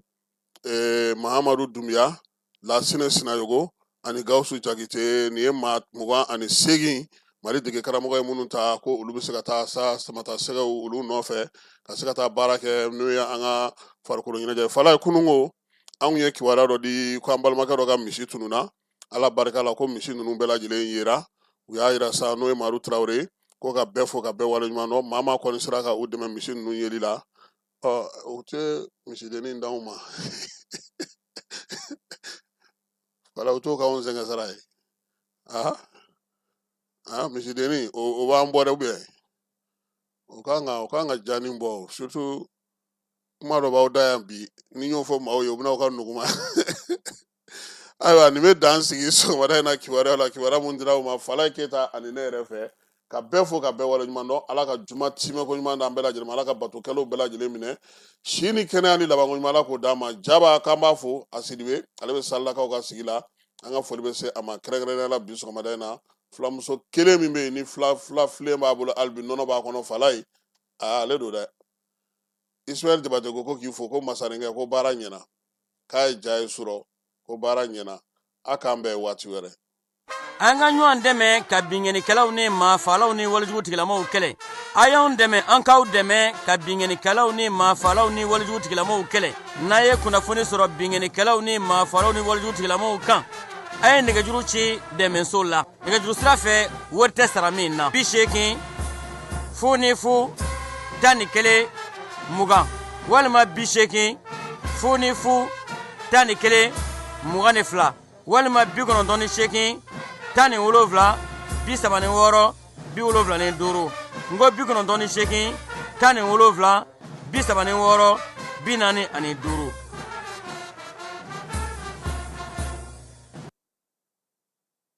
eh, Mahamadou Doumbia, Lassine Sinayogo, ani Gawusu Jakite, nin ye maa mugan ani seegin Mali dege karamɔgɔ ye minnu ta ko olu bɛ se ka taa sa samata sɛgɛw olu nɔfɛ ka se ka taa baara kɛ n'o ye an ka farikolo ɲɛnajɛ Falaye kununko anw ye kibaruya dɔ di ko an balimakɛ dɔ ka misi tununna ala barika la ko misi ninnu bɛɛ lajɛlen yera u y'a yira sa n'o ye madu tarawele ko ka bɛɛ fo ka bɛɛ waleɲuman dɔn maa maa kɔni sera ka u dɛmɛ misi ninnu yeli la ɔ u tɛ misidennin d'anw ma wala u t'o k'anw sɛgɛn sara ye aa aa misidennin o o b'an bɔ dɛ ou bien o kan ka o kan ka ja ni bɔ o surtout kuma dɔ b'aw da yan bi ni n y'o fɔ maaw ye u bɛna aw ka nuguma ayiwa nin bɛ dan sigi sɔgɔmada in na kibaruya la kibaruya mun dira u ma falaye keyita ani ne yɛrɛ fɛ ka bɛɛ fo ka bɛɛ waleɲuman dɔn ala ka juma timɛko ɲuman d'an bɛɛ lajɛlen ma ala ka bato kɛlenw bɛɛ lajɛlen minɛ si ni kɛnɛya ni labanko ɲuman ala k'o d'an ma jaba k'an b'a fo a sidibe ale bɛ salilakaw ka sigi la an ka foli bɛ se a ma kɛrɛnkɛrɛnnenya la bi sɔgɔmada in na filamuso kelen min bɛ yen ni fila fila filen b'a bolo hali bi nɔnɔ b'a kɔnɔ falaye ale don dɛ Ismaël jabate ko ko k'i fo ko masarenkɛ ko baara ɲɛna k'a ye ja ye surɔ ko baara ɲɛna a k'an bɛn waati wɛrɛ an ka ɲɔgɔn dɛmɛ ka binkɛnikɛlaw ni maafalaw ni walejugu tigilamaw kɛlɛ a y'anw dɛmɛ an k'aw dɛmɛ ka binkɛnikɛlaw ni maafalaw ni walejugu tigilamaw kɛlɛ n'a ye kunnafoni sɔrɔ binkɛnikɛlaw ni maafalaw ni walejugu tigilamaw kan a ye nɛgɛjuru ci dɛmɛso la nɛgɛjuru sira fɛ wari tɛ sara min na bi seegin fu ni fu tan ni kelen mugan walima bi seegin fu ni fu tan ni kelen mugan ni fila walima bi kɔnɔntɔn ni seegin tan ni wolonfila bi saba ni wɔɔrɔ bi wolonfila ni duuru n ko bi kɔnɔntɔn ni seegin tan ni wolonfila bi saba ni wɔɔrɔ bi naani ani duuru